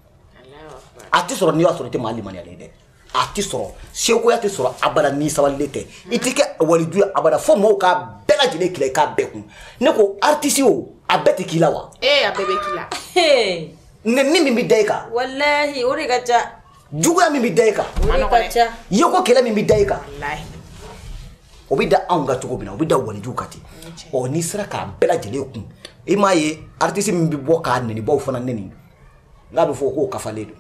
Speaker 1: a tɛ sɔrɔ n'i y'a sɔrɔ i tɛ maa limaniyalen dɛ a tɛ sɔrɔ sekoya tɛ sɔrɔ abada n'i sabalilen tɛ i tɛ kɛ waliju ye abada fo mɔgɔw k'a bɛɛ lajɛlen k'i la i k'a bɛɛ kun ne ko artiste o a bɛɛ tɛ k'i la wa ee a bɛɛ bɛ k'i la nɛni min bɛ da i kan walahi o de ka ca
Speaker 2: juguya min bɛ
Speaker 1: da i kan o de ka
Speaker 2: ca yeko kɛlɛ min bɛ
Speaker 1: da i kan o bɛ da anw kan cogo min na o bɛ da walijuw kan ten ɔ n'i sera k'a bɛɛ lajɛlen kun i m'a ye artiste min bɛ bɔ k'a nɛnibaw fana nɛni n'a bɛ fɔ k'o kafalen don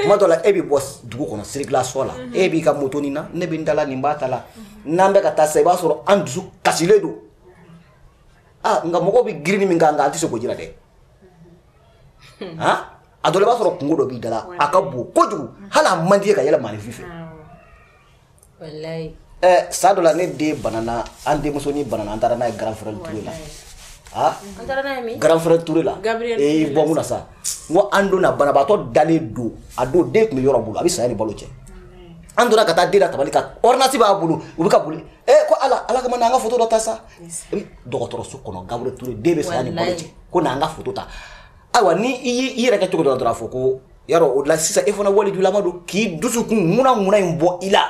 Speaker 1: tuma dɔ la e bɛ bɔ dugu kɔnɔ sirikilasɔ la e b'i ka moto nin na ne bɛ n ta la nin b'a ta la n'an bɛ ka taa sa i b'a sɔrɔ an dusu kasilen don ah nka mɔgɔw bɛ girinni min k'an kan an tɛ se k'o jira dɛ han a dɔ la i b'a sɔrɔ kunko dɔ b'i da la a ka bon kojugu hali a man d'i ye ka yɛlɛ maaninfin fɛ. San dɔ la ne den banana an denmusonin banana an taara n'a ye Gabriel Touré
Speaker 2: la Gabriel Touré la
Speaker 1: bɔ sa ko an donna banabaatɔ dalen don a don den tun bɛ yɔrɔ bolo a bɛ saya ni balo cɛ an donna ka taa den da tabali kan ordonnance b'a bolo u bɛ ka boli ko ala kama an ka foto dɔ ta sa dɔgɔtɔrɔso kɔnɔ Gabriel Touré den bɛ saya ni balo cɛ ko an ka foto ta ayiwa n'i yɛrɛ kɛ cogo dɔ la dɔrɔn a fɔ ko yarɔ o la sisan e fana walijulama don k'i dusukun ŋuna ŋuna in bɔ i la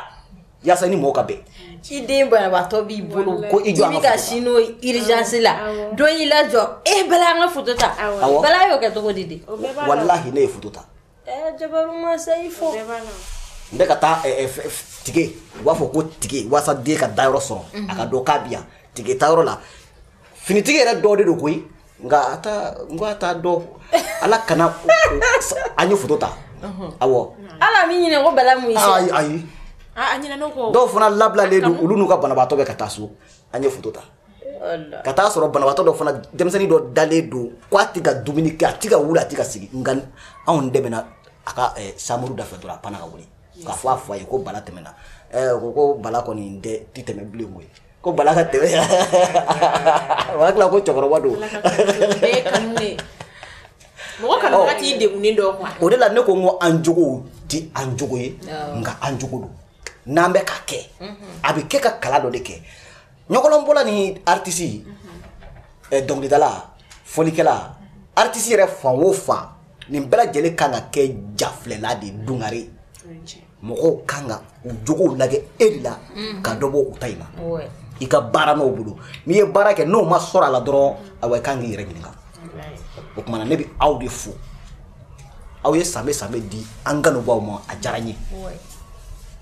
Speaker 1: yaasa i ni mɔgɔ ka bɛn i den banabaatɔ
Speaker 2: b'i bolo ko i jɔ an ka foto ta i bɛ ka sin n'o ye urgence la dɔ y'i lajɔ e bala an ka foto ta bala y'o kɛ cogo di de walahi ne ye
Speaker 1: foto ta eh, jabaru
Speaker 2: masa i fo n bɛ
Speaker 1: ka taa eh, eh, tikɛ u b'a fɔ ko tikɛ waasa den ka dayɔrɔ sɔrɔ a ka dɔn k'a bi yan tikɛ tayɔrɔ la finitigi yɛrɛ dɔ de don koyi nka a ta n ko a t'a dɔn ala kama an ye foto ta awɔ ala min ɲinɛ
Speaker 2: ko bala mun ye ayi ayi a ɲinɛna
Speaker 1: ko dɔw fana labilalen don olu n'u ka banabaatɔ bɛ ka taa so an ye foto ta ka taa sɔrɔ banabaatɔ dɔ fana denmisɛnnin dɔ dalen don ko a tɛ ka dumuni kɛ a tɛ ka wuli a tɛ ka sigi nka anw tɛmɛna a ka eh, sanburu da fɛ dɔrɔn a panna ka wuli k'a fɔ a fa ye ko bala tɛmɛna eh, ko ko bala kɔni tɛ tɛmɛ bilen koyi ko bala ka tɛmɛ o hakili la ko cɛkɔrɔba
Speaker 3: don mɔgɔ kana ka t'i degunnen dɔ kuwa o de la ne ko n ko an
Speaker 1: jogow ti an jogo ye nka an jogo don n'an bɛ ka kɛ a bɛ kɛ ka kalan dɔ de kɛ ɲɔgɔlɔnbɔla ni aritisi dɔnkilidala fɔlikɛla aritisi yɛrɛ fan o fan nin bɛɛ lajɛlen kan ka kɛ jafilɛlan de ye dungare mɔgɔw kan ka u jogow lagɛ e de la ka dɔ bɔ u ta in na i ka baara n'o bolo n'i ye baara kɛ n'o ma sɔrɔ a la dɔrɔn awa i kan k'i yɛrɛ ɲininka o tuma na ne bɛ aw de fo aw ye sanbe sanbe di an kanubaw ma a diyara n ye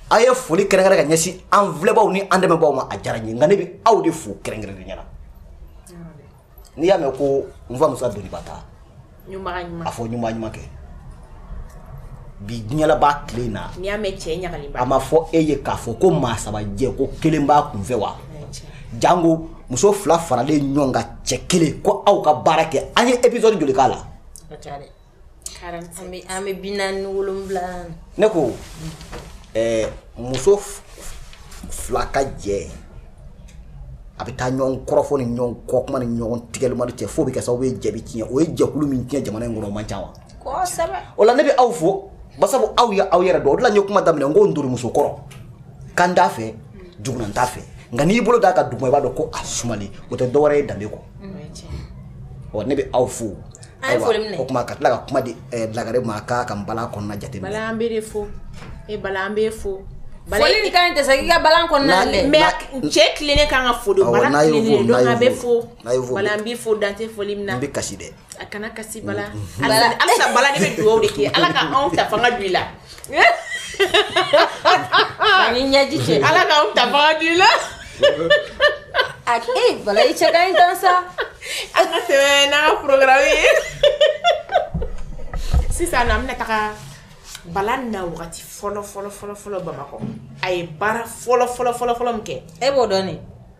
Speaker 1: aw ye foli kɛrɛnkɛrɛn ka ɲɛsin an filɛbaw ni an dɛmɛbaw ma a diyara n ye nka ne bɛ aw de fo kɛrɛnkɛrɛnnenya la n'i y'a mɛn ko n fa musa doniba ta a fɔ ɲuman ɲuman kɛ bi diɲɛlaba tile in na a
Speaker 3: ma fɔ e ye k'a
Speaker 1: fɔ ko maa saba jɛ ko kelen b'a kunfɛ wa jango muso fila faralen ɲɔgɔn kan cɛ kelen ko aw ka baara kɛ an ye episode joli k'a la
Speaker 2: an bɛ bi
Speaker 1: naani wolonwula ne ko muso fila ka jɛ a bɛ taa ɲɔgɔn kɔrɔfɔ ni ɲɔgɔn kɔ kuma ni ɲɔgɔn tigɛlilima cɛ fo bɛ kɛ sababu ye jɛ bɛ tiɲɛ o ye jɛkulu min tiɲɛ jamana in kɔnɔ o man ca wa o la ne bɛ aw fo ba aw ye aw yɛrɛ dɔn o la n ye kuma daminɛ n ko n donmuso kɔrɔ kan t'a fɛ j t'a fɛ nka n'i bolo d'a ka dugu i b'a dɔn ko a suma o tɛ dɔwɛrɛ ye danbe kɔ ne bɛ aw fo An ye foli minɛ, o tuma ka tila ka kuma di Lagare ma a k'a ka npalan kɔnɔna jate minɛ, Bala an bɛ e de
Speaker 3: fo, e Bala an b'e fo, foli nin ka ɲi tɛ
Speaker 2: sa k'i ka npalan kɔnɔna lajɛ, mais cɛ tilennen
Speaker 3: ka kan ka fo de, Bala tilennen donc an bɛ fo, n'a y'i fo, Bala n b'i fo dan tɛ foli min na, n bɛ kasi dɛ, a
Speaker 1: kana kasi Bala,
Speaker 3: halisa Bala ne bɛ dugawu de k'i ye Ala ka anw ta fanga don i la
Speaker 2: Ani ɲɛji cɛ ala k'anw ta fanga
Speaker 3: don i la a e
Speaker 2: bala i cɛ ka ɲi tan sa an ka tɛmɛ
Speaker 3: n'an ka programme ye sisan na an bɛna taga bala na wagati fɔlɔ fɔlɔ fɔlɔ fɔlɔ bamakɔ a ye baara fɔlɔ fɔlɔ fɔlɔ fɔlɔ min kɛ e b'o dɔn ne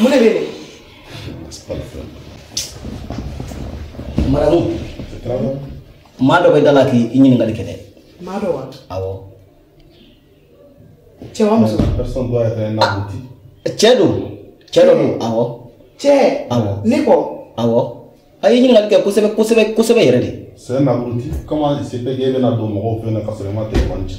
Speaker 5: mu ne
Speaker 6: bee
Speaker 1: ne madame maa dɔ bɛ da la k'i ɲininkali kɛ dɛ maa dɔ wa
Speaker 5: awɔ
Speaker 1: cɛ
Speaker 6: wa muso Personne doit être un abruti. cɛ
Speaker 1: don cɛ dɔ don awɔ cɛ
Speaker 5: awɔ ne
Speaker 1: kɔ
Speaker 5: awɔ
Speaker 1: a ye ɲininkali kɛ kosɛbɛ kosɛbɛ kosɛbɛ yɛrɛ de C'est un abruti.
Speaker 6: Comment il se fait qu'il bɛna don mɔgɔw fɛ yen nɔ ka sɔrɔ i ma téléphone ci?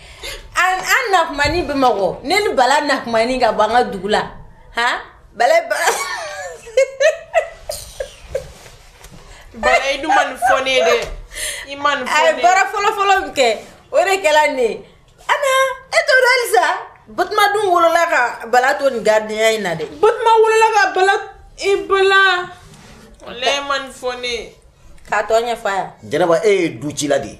Speaker 2: an na tuma min bamakɔ ne ni bala na tuma min ka bɔ an ka dugu la han
Speaker 3: bala bala i dun ma nin fɔ ne ye dɛ i ma nin fɔ ne ye a ye baara fɔlɔfɔlɔ
Speaker 2: min kɛ o de kɛra nin ye ana e t'o dɔn halisa batuma dun wolola ka bala to nin gardienya in na dɛ batuma wolola
Speaker 3: ka bala i bala walayi ma nin fɔ ne ye k'a tɔ ɲɛfɔ
Speaker 2: a yan jɛnɛba e ye du
Speaker 1: cila de ye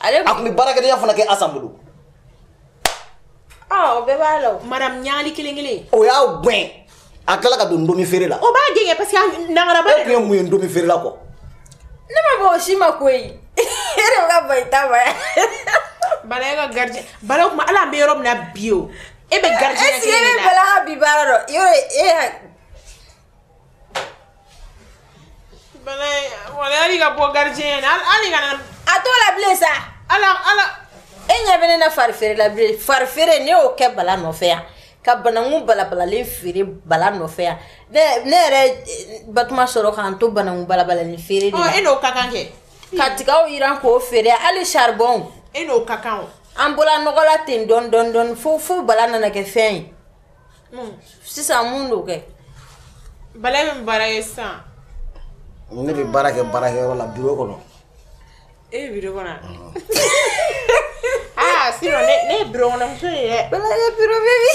Speaker 2: ale a tun bɛ baarakɛdenya fana
Speaker 1: kɛ asan
Speaker 2: bolo ah, o bɛɛ b'a la madame ɲagali kelen
Speaker 3: kelen o y'a gɛn
Speaker 1: a tilala ka don ndomi feere la o b'a gɛn kɛ parce que
Speaker 3: nangaraba e tun ye mun ye ndomi feere
Speaker 1: la kɔ ne ma
Speaker 2: bɔ o si ma ko ye e de bɛ ka bɔ i ta ma yan
Speaker 3: bala e ka gardien bala o tuma ala an bɛ yɔrɔ min na bi o e bɛ gardien kelen de la est ce que e bɛ bala ka
Speaker 2: bi baara dɔn yɔrɔ e
Speaker 3: bala ye wala ala k'a bɔ gardien na ala kana a t'o la bilen
Speaker 2: sa ala ala
Speaker 3: e ɲɛ bɛ
Speaker 2: ne na fari feere la bilen fari feere ne y'o kɛ bala nɔfɛ yan ka bananku balabalalen feere bala nɔfɛ yan ne ne yɛrɛ batuma sɔrɔ k'an to bananku balabalalen feere de la e n'o ka kan
Speaker 3: kɛ ka
Speaker 2: tigaw yiran k'o feere hali saribɔnw e n'o ka kan o
Speaker 3: an bɔla nɔgɔ la
Speaker 2: ten dɔɔni dɔɔni dɔɔni fo fo bala nana kɛ fɛn ye sisan mun don kɛ bala
Speaker 3: bɛ baara ye sisan
Speaker 1: ne bɛ baara kɛ baarakɛyɔrɔ la biro kɔnɔ e bɛ
Speaker 3: biro kɔnɔ aa sisan ne ye biro kɔnɔmuso ye dɛ bala ye biro bɛ bi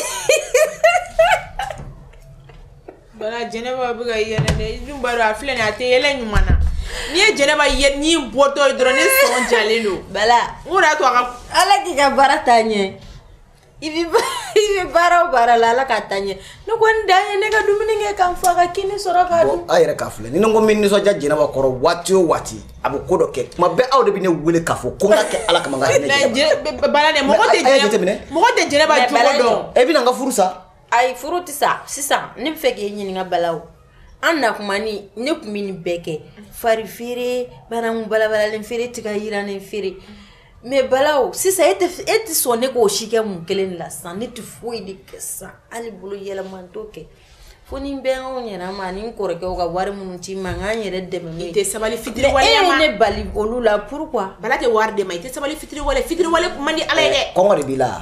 Speaker 3: bala jɛnɛba bɛ ka yɛlɛ dɛ i dun b'a dɔn a filɛ nin ye a tɛ yɛlɛ ɲuman na n'i ye jɛnɛba ye n'i bɔtɔ ye dɔrɔn ne sɔn jalen don bala n ko de y'a to
Speaker 2: a ka
Speaker 3: ala k'i ka baara
Speaker 2: taa ɲɛ i bɛ baara o baara la ala k'a taa ɲɛ ne ko n dan ye ne ka dumuni kɛ ka n fa ka kini sɔrɔ k'a dun a yɛrɛ k'a filɛ ni ne ko
Speaker 1: min ne sɔn ja jɛnɛba kɔrɔ waati o waati a bɛ ko dɔ kɛ tuma bɛɛ aw de bɛ ne wele k'a fɔ ko n k'a kɛ ala kama ka ne jɛnɛba baara dɛ mɔgɔ
Speaker 3: tɛ jɛnɛba mɔgɔ tɛ jɛnɛba jogo dɔn e bɛna n ka furu
Speaker 1: sa ayi furu tɛ
Speaker 2: sa sisan ne b'a fɛ k'e ɲininka bala o an na kuma ni ne tun bɛ nin bɛɛ kɛ fari feere bananku balabalalen feere tiga yirannen feere mais bala o sisan e tɛ e tɛ sɔn ne k'o si kɛ mun kelen de la sisan ne tɛ foyi de kɛ sisan hali bolo yɛlɛma n t'o kɛ fo ni bɛ anw yɛrɛ ma ni n kɔrɔkɛw ka wari minnu ci n ma ka n yɛrɛ dɛmɛ n'o ye i tɛ sabali fitiriwale
Speaker 3: e ye ne bali olu
Speaker 2: la pourquoi bala tɛ wari d'e ma i tɛ
Speaker 3: sabali fitiriwale fitiriwale man di ala ye dɛ kɔngɔ de b'i la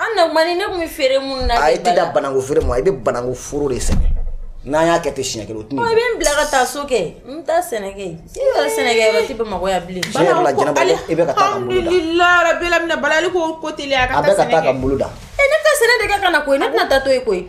Speaker 2: An na mani ne tun bɛ feere minnu na a tɛ dan bananku feere
Speaker 1: ma i bɛ bananku foro de sɛnɛ n'an y'a kɛ ten siɲɛ kelen tun i bɛ n bila ka taa so
Speaker 2: kɛ n taa sɛnɛ sɛnɛ tɛ bɛ mɔgɔya bilen
Speaker 1: i bɛ ka taa
Speaker 3: bɛɛ bala ko ko tɛ a ka taa ka boloda
Speaker 1: e ne tɛ sɛnɛ de
Speaker 2: ka na koyi ne tɛna taa to yen koyi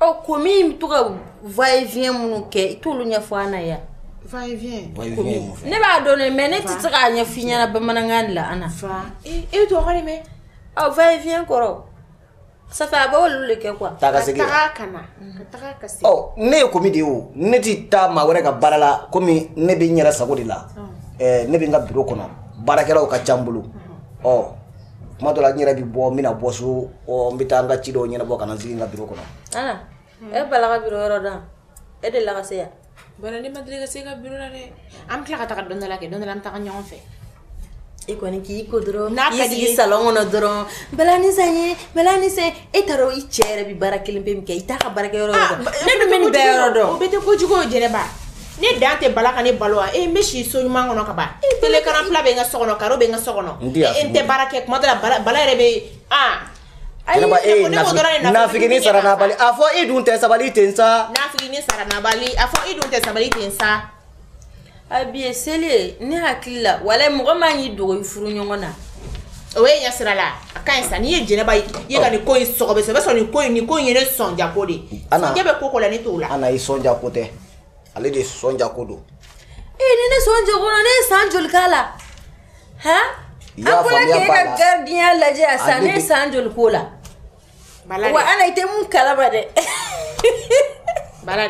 Speaker 2: ɔ komi i bɛ to ka va et vient minnu kɛ i t'olu ɲɛfɔ an na yan. va et vient. va
Speaker 3: et vient ye mun fɛ. ne b'a
Speaker 2: dɔn dɛ mais ne tɛ se k'a ɲɛf'i ɲɛna bamanankan de la Ana. fa e bɛ
Speaker 3: tubabukan de mɛn. ɔ va et vient
Speaker 2: kɔrɔ. ça fait a b'olu de kɛ quoi. taa ka segin yan ka taa ka
Speaker 1: na
Speaker 3: ka taa ka segin. ɔ ne ye komi de ye
Speaker 1: o ne tɛ taa maa wɛrɛ ka baara la komi ne bɛ n yɛrɛ sago de la ɛɛ ne bɛ n ka biro kɔnɔ baarakɛlaw ka ca n bolo ɔ. kuma dɔ la n yɛrɛ bɛ bɔ n bɛna bɔ so ɔ n bɛ taa n ka ci dɔw ɲɛnabɔ ka na n sigi n ka biro kɔnɔ Ana, e
Speaker 2: bala ka biro yɔrɔ dɔn e delila ka se yen Bala ne ma deli
Speaker 3: ka s'e ka biro la dɛ. An bɛ tila ka taga don dɔ la kɛ don dɔ la an bɛ taga ɲɔgɔn fɛ.
Speaker 2: i kɔni k'i ko dɔrɔn N'a ka k'i d'i sigi ye. salɔn
Speaker 3: kɔnɔ dɔrɔn
Speaker 2: bala ni san ye bala ni san ye e t'a dɔn i cɛ yɛrɛ bɛ baara kelen pe min kɛ i t'a ka baarakɛyɔrɔ dɔn ne dun bɛ nin bɛɛ yɔrɔ dɔn o bɛɛ tɛ kojugu o jɛnɛba
Speaker 3: ne dan tɛ bala ka ne balo wa e n bɛ si so ɲuman kɔnɔ ka ban télé écran plat bɛ n ka so kɔnɔ karo bɛ n ka so kɔnɔ e n tɛ baara kɛ kuma dɔ la bala yɛrɛ bɛ
Speaker 1: aa Jɛnɛba e ye nafiginin sara nabali a fɔ e dun tɛ sabali ten sa nafiginin sara nabali
Speaker 3: a fɔ e dun tɛ sabali ten sa
Speaker 2: a bi ye seli ye ne hakili la walayi mɔgɔ man k'i dogo i furuɲɔgɔn na o ye
Speaker 3: ɲɛsira la a ka ɲi sa n'i ye jɛnɛba ye i ye ka nin ko in sɔgɔ bɛ sɔrɔ i b'a sɔrɔ nin ko in nin ko in ye ne sɔnja ko de ye Ana. sɔnja bɛ ko ko la ne t'o la ana i sɔnja ko
Speaker 1: tɛ ale de sɔnja ko don ee ni ne
Speaker 2: sɔnja ko la ne ye san joli k'a la han I y'a an bɔra faamuya k'e ba ka la. garidiya lajɛ yan A sisan ne ne ye bɛ- san joli k'o la Bala wa ana i tɛ mun kalama
Speaker 3: dɛ bala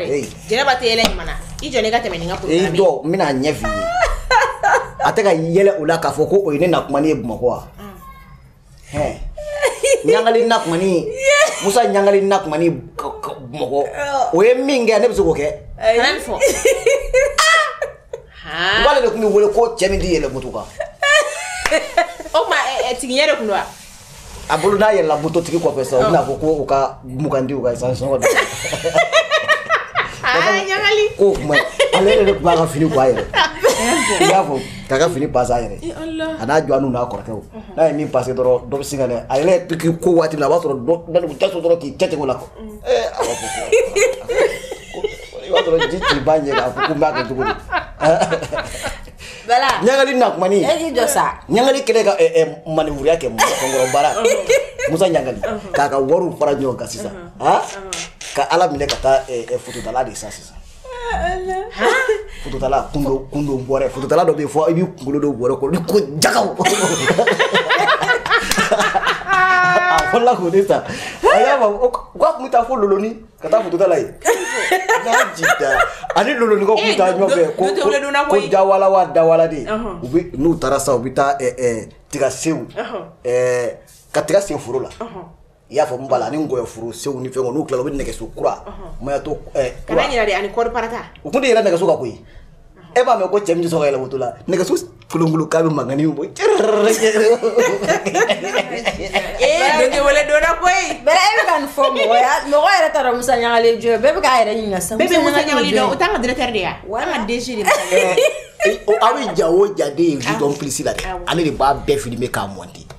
Speaker 3: jɛnɛba tɛ yɛlɛ ɲuman i jɔ ka tɛmɛ nin kan n bɛna
Speaker 1: ɲɛf'i ye a tɛ ka yɛlɛ o la k'a fɔ ko o ye ne na kuma ye bamakɔ wa mm. ɲagali na kuma musa ɲagali na kuma bamakɔ oh. o ye min kɛ ne bɛ se k'o kɛ k'ale de tun bɛ wele ko cɛ min tɛ yɛlɛ moto kan
Speaker 3: o tuma tigiɲɛ de tun don wa a bolo
Speaker 1: n'a yɛlɛla mototigi kɔfɛ sa u bɛna fɔ ko u ka mugan di u ka essence sɔngɔ
Speaker 3: ko o kuma
Speaker 1: ale yɛrɛ de tun b'a ka fini bɔ a yɛrɛ i y'a fɔ k'a ka fini pase a yɛrɛ a n'a jɔ n'u n'a kɔrɔkɛw n'a ye min pase dɔrɔn dɔ bɛ sin ka dɛ a yɛrɛ k'i ko waati min a b'a sɔrɔ dɔ tɛ so dɔrɔn k'i cɛ tigɛ o la kɔ ɛɛ a b'a fɔ ko i b'a sɔrɔ ji t'i ba ɲɛ k'a fɔ ko n b'a kɛ cogo di
Speaker 2: Bala. Ɲagali na kuma ni.
Speaker 1: E k'i jɔ
Speaker 2: sa. Ɲagali kɛlen ka ɛ
Speaker 1: ɛ manɛvuruya kɛ mɔgɔ kɔrɔ baara. Musa Ɲagali k'a ka wariw fara ɲɔgɔn kan sisan. Han ka Ala minɛ ka taa ɛ ɛ fototala de san sisan. Fototala kundon kundon bɔrɛ fototala dɔ bɛ yen fɔ i b'i kunkolo don bɔrɛ kɔnɔ ni ko jagaw. A fɔlɔla k'o de san. A y'a fɔ k'a tun bɛ taa fo Loloni. ka taa fotota la yen ani lolonikaw tun bɛ taa ɲɔgɔn fɛ ko ko dawala wa dawala de u bɛ n'u taara sa u bɛ taa tiga sew ka tiga sen foro la i y'a fɔ n bala ani nkɔyɔ foro sew ni fɛn n'u tilala u bɛ nɛgɛso kura mayatɔ kura
Speaker 3: u tun tɛ yɛlɛ nɛgɛso kan koyi
Speaker 1: e b'a mɛn ko cɛ min tɛ sɔn ka yɛlɛ moto la nɛgɛso kolonkolon k'a bɛ mankanni bɔ cɛ
Speaker 3: ee wele donna koyi bɛɛ e bɛ ka nin fɔ
Speaker 2: mɔgɔ ya mɔgɔ yɛrɛ t'a dɔn musa ɲagali jɔn bɛɛ bɛ k'a yɛrɛ ɲininka sisan bɛɛ bɛ musa ɲagali
Speaker 3: dɔn
Speaker 2: o
Speaker 3: t'an ka directeur de ye wa an ka DG
Speaker 1: de aw bɛ ja o ja de ye du dɔn plus la dɛ ale de b'a bɛɛ filmer k'a monter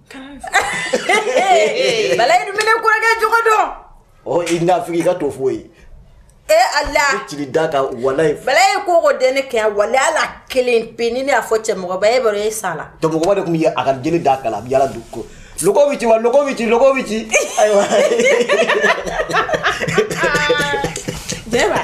Speaker 2: bala i dun bɛ ne kɔrɔkɛ jogo dɔn ɔ i
Speaker 7: nafigi i ka to f'o ye e ala i
Speaker 2: tigi da ka
Speaker 7: walayi bala i ko ko den
Speaker 2: ne kɛ wala ala kelen pe ni ne y'a fɔ cɛ mɔgɔ ba ye baara ye sa la to mɔgɔba de tun ye
Speaker 7: a ka jele da kan na a bɛ yaala du ko lɔgɔ bɛ ci wa lɔgɔ bɛ ci lɔgɔ bɛ ci ayiwa
Speaker 3: bɛɛ b'a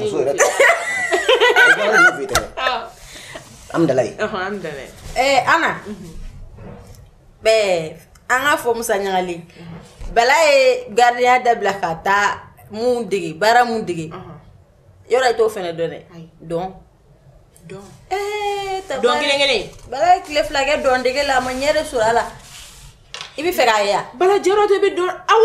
Speaker 7: muso yɛrɛ an dala
Speaker 2: ana an ka fɔ musa ɲagali bala ye gardien dabila ka taa mun dege baara mun dege yɔrɔ i t'o fana dɔn dɛ
Speaker 3: dɔn dɔn kelen kelen bala ye tile fila
Speaker 2: kɛ dɔn dege la a m'a yɛrɛ sɔrɔ a la i bɛ fɛ k'a ye bala jɔyɔrɔ de bɛ dɔn
Speaker 3: aw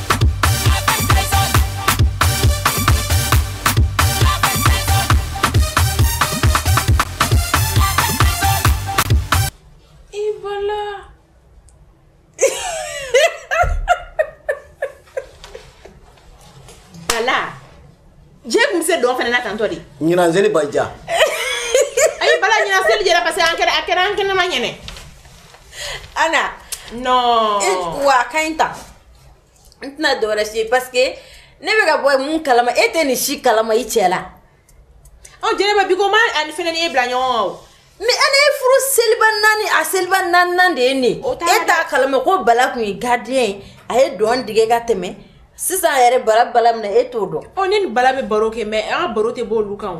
Speaker 7: ɲinan seli ba ja a
Speaker 3: ye bala ɲinan seli jɛra parce que an kɛra a kɛra an kɛnɛma ɲɛnɛ
Speaker 2: ana
Speaker 3: non wa a ka ɲi
Speaker 2: tan n tɛna dɔwɛrɛ si ye parce que ne bɛ ka bɔ mun kalama e tɛ nin si kalama i cɛ la ɔ jɛnɛba
Speaker 3: bi ko ma ani fɛnɛ ni e bila ɲɔgɔn kan o mais ana ye furu
Speaker 2: seliba naani a seliba naaninan de ye nin e t'a kalama ko bala kun ye gardien ye a ye dɔn dege ka tɛmɛ sisan yɛrɛ bala bala minɛ e t'o dɔn ɔ ne ni bala bɛ baro kɛ
Speaker 3: mais an ka baro tɛ bɔ olu kan o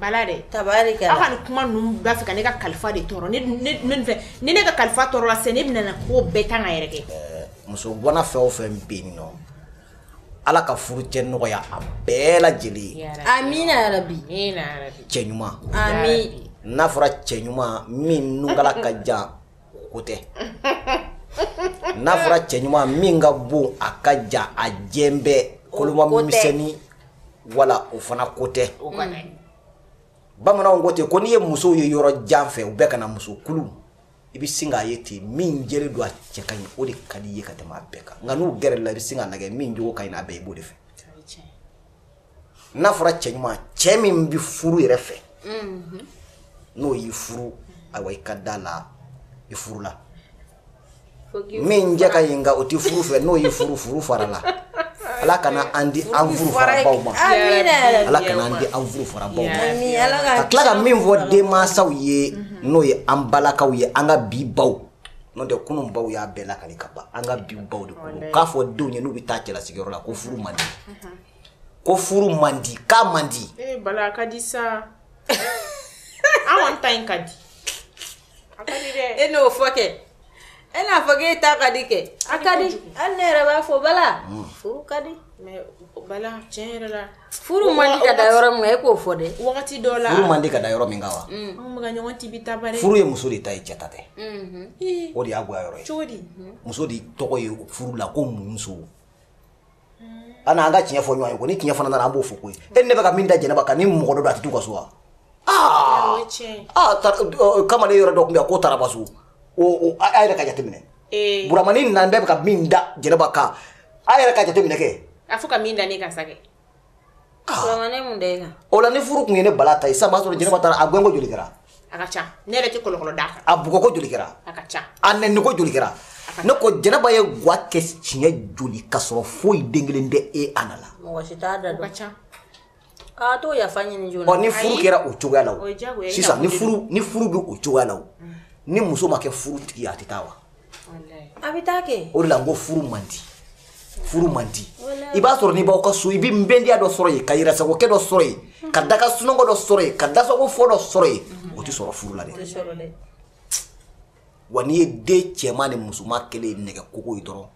Speaker 3: Bala dɛ tabari aw ka kuma ninnu b'a fɛ ka ne ka kalifa de tɔɔrɔ fɛ ni ne ka kalifa tɔɔrɔla ne bɛna ko bɛɛ tan ka yɛrɛ kɛ muso gwanan
Speaker 7: fɛn o fɛn bɛ yen nɔ ala ka furucɛ nɔgɔya a bɛɛ lajɛlen ye amina yarabi cɛ
Speaker 2: ɲuman n'a fɔra
Speaker 7: cɛ ɲuman min nunkala ka jan ko tɛ n'a fɔra cɛ ɲuman min ka bon a ka jan a jɛ bɛɛ kolomamisɛnnin wala o fana ko tɛ bamananw ko ten ko n'i ye musow ye yɔrɔ jan fɛ u bɛ ka na muso kulu i bɛ sin k'a ye ten min jɛlen don a cɛ ka ɲi o de ka di i ye ka tɛmɛ a bɛɛ kan nka n'u gɛrɛla i bɛ sin k'a lajɛ min jogo ka ɲi n'a bɛɛ i b'o de fɛ n'a fɔra cɛ ɲuman cɛ min bɛ furu yɛrɛ fɛ n'o y'i furu ayiwa i ka da la i furu la min cɛ ka ɲi nka o tɛ furu fɛ n'o y'i furu furu farala ala kana an di an furu farabaw ma ala kana an di an furu farabaw ma ka tila ka min fɔ denmansaw ye n'o ye an balakaw ye an ka bi baw
Speaker 1: n'o tɛ kunun baw y'a bɛɛ lakali ka ban an ka bi baw de kɔnɔ k'a fɔ denw ye n'u bɛ taa cɛlasigiyɔrɔ la ko furu man di ko furu man di k'a man di eh, bala a ka di sa
Speaker 3: an kɔni ta in ka di e n'o fɔ kɛ
Speaker 2: e n'a fɔ k'e ta ka di kɛ a ka di hali ne yɛrɛ b'a fɔ bala mm. furu ka di bala
Speaker 3: tiɲɛ yɛrɛ la furu man di ka da
Speaker 2: yɔrɔ min kan e k'o fɔ dɛ wagati dɔ la furu man di
Speaker 3: ka da yɔrɔ min kan
Speaker 1: wa mm. anw bɛ ka ɲɔgɔn tibi
Speaker 3: ta bari furu ye muso de ta ye cɛ ta
Speaker 1: tɛ mm-hmm. o de y'a goya yɔrɔ ye cogo di muso de
Speaker 3: tɔgɔ ye
Speaker 1: furu la ko muso ana an ka tiɲɛ fɔ ɲɔgɔn ye ko ni tiɲɛ fana nana an b'o fɔ koyi e ne bɛ ka min da jɛnɛba kan ni mɔgɔ dɔ don a tɛ t'u ka so wa aa kamalen yɔrɔ dɔ tun bɛ yan k'o taara ba so a yɛrɛ ka jateminɛ buramani nan bɛɛ bɛ ka min da jɛnɛba kan a yɛrɛ ka jateminɛ kɛ a fɔ ka min da ne
Speaker 3: kan sa kɛ
Speaker 2: o la ni furu tun ye ne
Speaker 1: bala ta ye sisan b'a sɔrɔ jɛnɛba taara a gɛnko joli kɛra a ka ca ne
Speaker 3: yɛrɛ tɛ kɔlɔkɔlɔ d'a kan a bugɔko joli kɛra
Speaker 1: a
Speaker 3: ka
Speaker 1: ca a neniko
Speaker 3: joli kɛra
Speaker 1: ne ko jɛnɛba ye gwa kɛ siɲɛ joli ka sɔrɔ foyi den kelen tɛ ye a na la mɔgɔ si t'a da dɔn o
Speaker 2: ka
Speaker 3: ca a
Speaker 2: t'o yafa ɲini joona ɔ ni furu kɛra o cogoya
Speaker 1: la o sisan ni
Speaker 3: furu ni furu
Speaker 1: bɛ o cogoya la o ni muso ma kɛ furu tigi ye a tɛ taa wa a
Speaker 2: bɛ taa kɛ o de la n ko furu man
Speaker 1: di furu man di i b'a sɔrɔ n'i b'aw ka so i bɛ nbɛndiya dɔ sɔrɔ yen ka yɛrɛsagokɛ dɔ sɔrɔ yen ka da ka sunɔgɔ dɔ sɔrɔ yen ka dasagofɔ dɔ sɔrɔ yen o tɛ sɔrɔ furu la dɛ wa n'i ye den cɛman ni musoman kɛlen nɛgɛ kogo ye dɔrɔn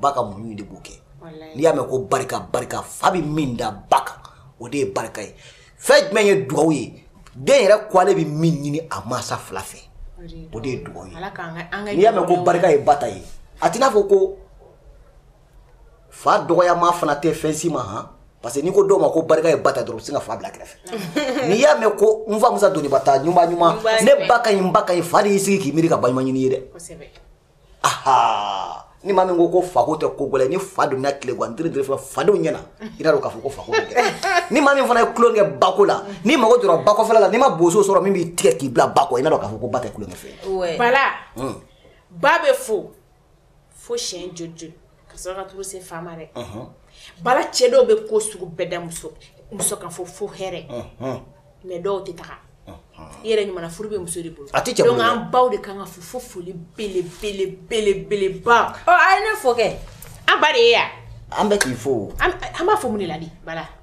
Speaker 1: ba ka muɲu de b'o kɛ walayi n'i y'a mɛn ko barika barika fa bɛ min da ba kan o de ye barika ye fɛn jumɛn ye dugawu ye den yɛrɛ ko ale bɛ min ɲini a mansa fila fɛ o de ye dugawu ye ala k'an ka an ka n'i y'a mɛn ko barika ye ba ta ye a t'i n'a fɔ ko fa dɔgɔyama fana tɛ fɛn si ma han parce que n'i ko dɔw ma ko barika ye ba ta dɔrɔn u bɛ sin ka fa bila kɛrɛfɛ n'i y'a mɛn ko n fa musa doniba ta ɲuman ɲuman ɲuman ne ba ka ɲi n ba ka ɲi fa de y'i sigi k'i miiri ka baɲuman ɲini i ye dɛ kosɛbɛ aha ni maa min ko ko fako tɛ ko gɛlɛn ni fa donna tile gan diri diri fana fadenw ɲɛna i n'a dɔn k'a fɔ ko fako tɛ ni maa min fana ye tulon kɛ bako la n'i mago jɔra bakɔfɛla la n'i ma boso sɔrɔ min b'i tigɛ k'i bila bakɔ i n'a dɔn k'a fɔ ko ba tɛ tulonkɛfɛn Bala
Speaker 3: ba bɛ fo fo siɲɛ joli joli ka sɔrɔ ka turu se fa ma dɛ Bala cɛ dɔw bɛ ko sugu bɛɛ da muso muso kan fo fo hɛrɛ mais dɔw tɛ taga i yɛrɛ ɲuman furu bɛ muso de bolo a tɛ cɛ bolo dɛ. an baw de kan ka fo fo foli belebelebelebeleba ɔ a ye ne fo kɛ
Speaker 2: an ba de ye
Speaker 3: yan an bɛ k'i fo
Speaker 1: o. an an b'a fo mun de la
Speaker 3: dɛ Bala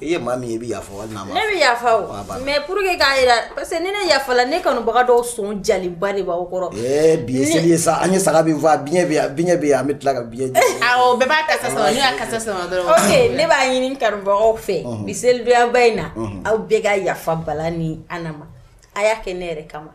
Speaker 2: i ye maa min ye i bɛ
Speaker 1: yafa wali n'a ma ne bɛ yafa o a
Speaker 2: banna mais pour que k'a jira parce que ni ne yafala ne kanubaga dɔw sɔn jalenba de b'aw kɔrɔ ɛɛ bi ye seli ye
Speaker 1: sa an ye saga min faa biɲɛ bɛ yan biɲɛ bɛ yan an bɛ tila ka biɲɛ jeni awɔ bɛɛ b'a kasa
Speaker 3: sama n'u y'a kasa sama dɔrɔn ok ne b'a
Speaker 2: ɲini kanubagaw fɛ bi selidonyaba in na aw bɛɛ ka yafa Bala ni Ana ma a y'a kɛ ne yɛrɛ kama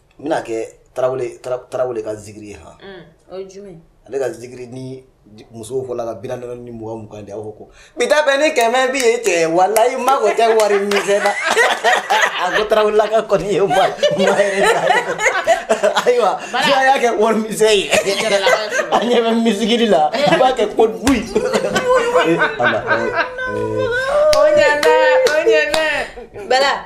Speaker 3: n bɛna
Speaker 1: kɛ tarawele tarawele ka zikiri ye
Speaker 2: hɔn ale ka zikiri
Speaker 1: ni musow fɔ la ka bi naani ni mɔgɔ mugan di aw ko bi ta bɛ ni kɛmɛ bɛ ye cɛ walayi mako tɛ wari misɛn na a ko tarawele ka kɔni ye ayiwa n'a y'a kɛ wari misɛn ye a ɲɛ bɛ misiri la i b'a kɛ ko bu
Speaker 3: bala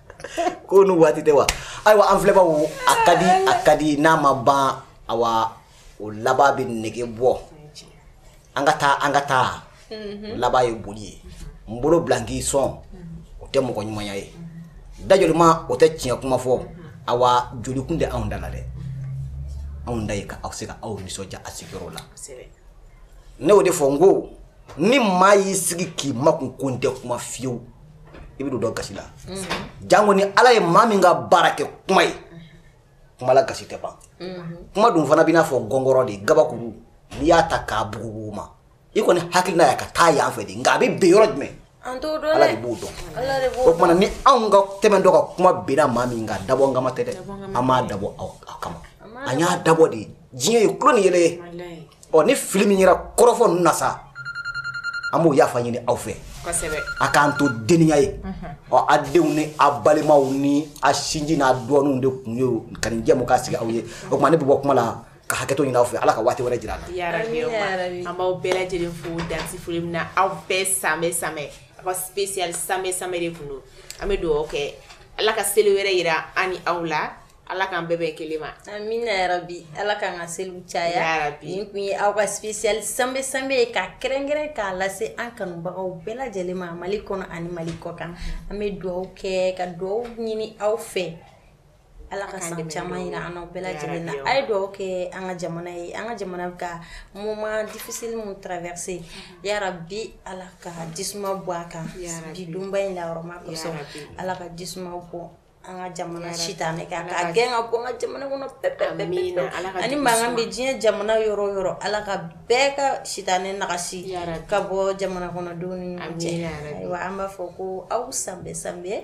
Speaker 3: ko n'u waati
Speaker 1: tɛ wa ayiwa an filɛbaw a ka di a ka di n'a ma ban awa o laban bɛ nege bɔ an ka taa an ka taa mhm. laban ye boli ye n bolo bila n k'i sɔn o tɛ mɔgɔ ɲumanya ye dajolima o tɛ tiɲɛ kuma fɔ awa jolikun tɛ anw da la dɛ anw da ye ka aw se ka aw nisɔndiya a sigiyɔrɔ la ne y'o de fɔ n ko ni maa y'i sigi k'i makun ko n tɛ kuma fiyewu i bɛ don dɔ gasi la mm-hmm. jango ni ala ye maa min ka baara kɛ kuma ye kuma la gasi tɛ ban mm-hmm. kuma dun fana b'i n'a fɔ gɔngɔrɔ de gabakuru n'i y'a ta k'a bugubugu ma i kɔni hakilina y'a ka taa yan fɛ de nka a bɛ ben yɔrɔ jumɛn An t'o dɔn dɛ, Ala de b'o dɔn, Ala de b'o dɔn, o tuma ni anw ka tɛmɛ dɔ ka kuma binna maa min kan dabɔnkama tɛ dɛ, an m'a dabɔ aw kama, an y'a dabɔ de diɲɛ ye tulon ni yɛlɛ ye, walahi, ɔ ni fili min yera kɔrɔfɔ ninnu na sa an b'o yafa ɲini aw fɛ, kosɛbɛ, a k'an to denninya ye, unhun, ɔ a denw ni a balimaw ni a sinji n'a dɔɔninw de kun ye ka nin jɛmukan sigi aw ye, o tuma ne bɛ bɔ kuma la ka hakɛto ɲini aw fɛ ala ka waati wɛrɛ jira an na Ya Rabi, Amina ya Rabi. an
Speaker 3: b'aw bɛɛ lajɛlen fo dan tɛ foli min na aw bɛɛ samɛ samɛ aw ka spécial samɛ samɛ de kun don an bɛ dugawu kɛ ala ka seli wɛrɛ jira an ni aw la ala k'an bɛɛ bɛn kelen ma amina
Speaker 2: yarabi ala k'an ka seliw caya Yarabi. nin kun ye aw ka spécial sanbɛ sanbɛ ye ka kɛrɛnkɛrɛn k'a lase an kanubagaw bɛɛ lajɛlen ma mali kɔnɔ ani mali kɔkan an bɛ dugawu kɛ ka dugawu ɲini aw fɛ Ala ka san caman jira an n'aw bɛɛ lajɛlen na. A ye dugawu kɛ an ka jamana ye, an ka jamana bɛ ka moment difficile min traverser yarabi Ala ka jisuma bɔn a kan bi donba in na hɔrɔma kosɔn. Ala ka jisuma bɔn an ka jamana sitanɛ kan k'a gɛn ka bɔ an ka jamana kɔnɔ pewu-pewu-pewu ani mankan bɛ diɲɛ jamana yɔrɔ o yɔrɔ Ala ka bɛɛ ka sitanɛ nagasi ka bɔ jamanakɔnɔdenw ni ɲɔgɔn cɛ. Ayiwa an b'a fɔ ko aw san bɛɛ san bɛɛ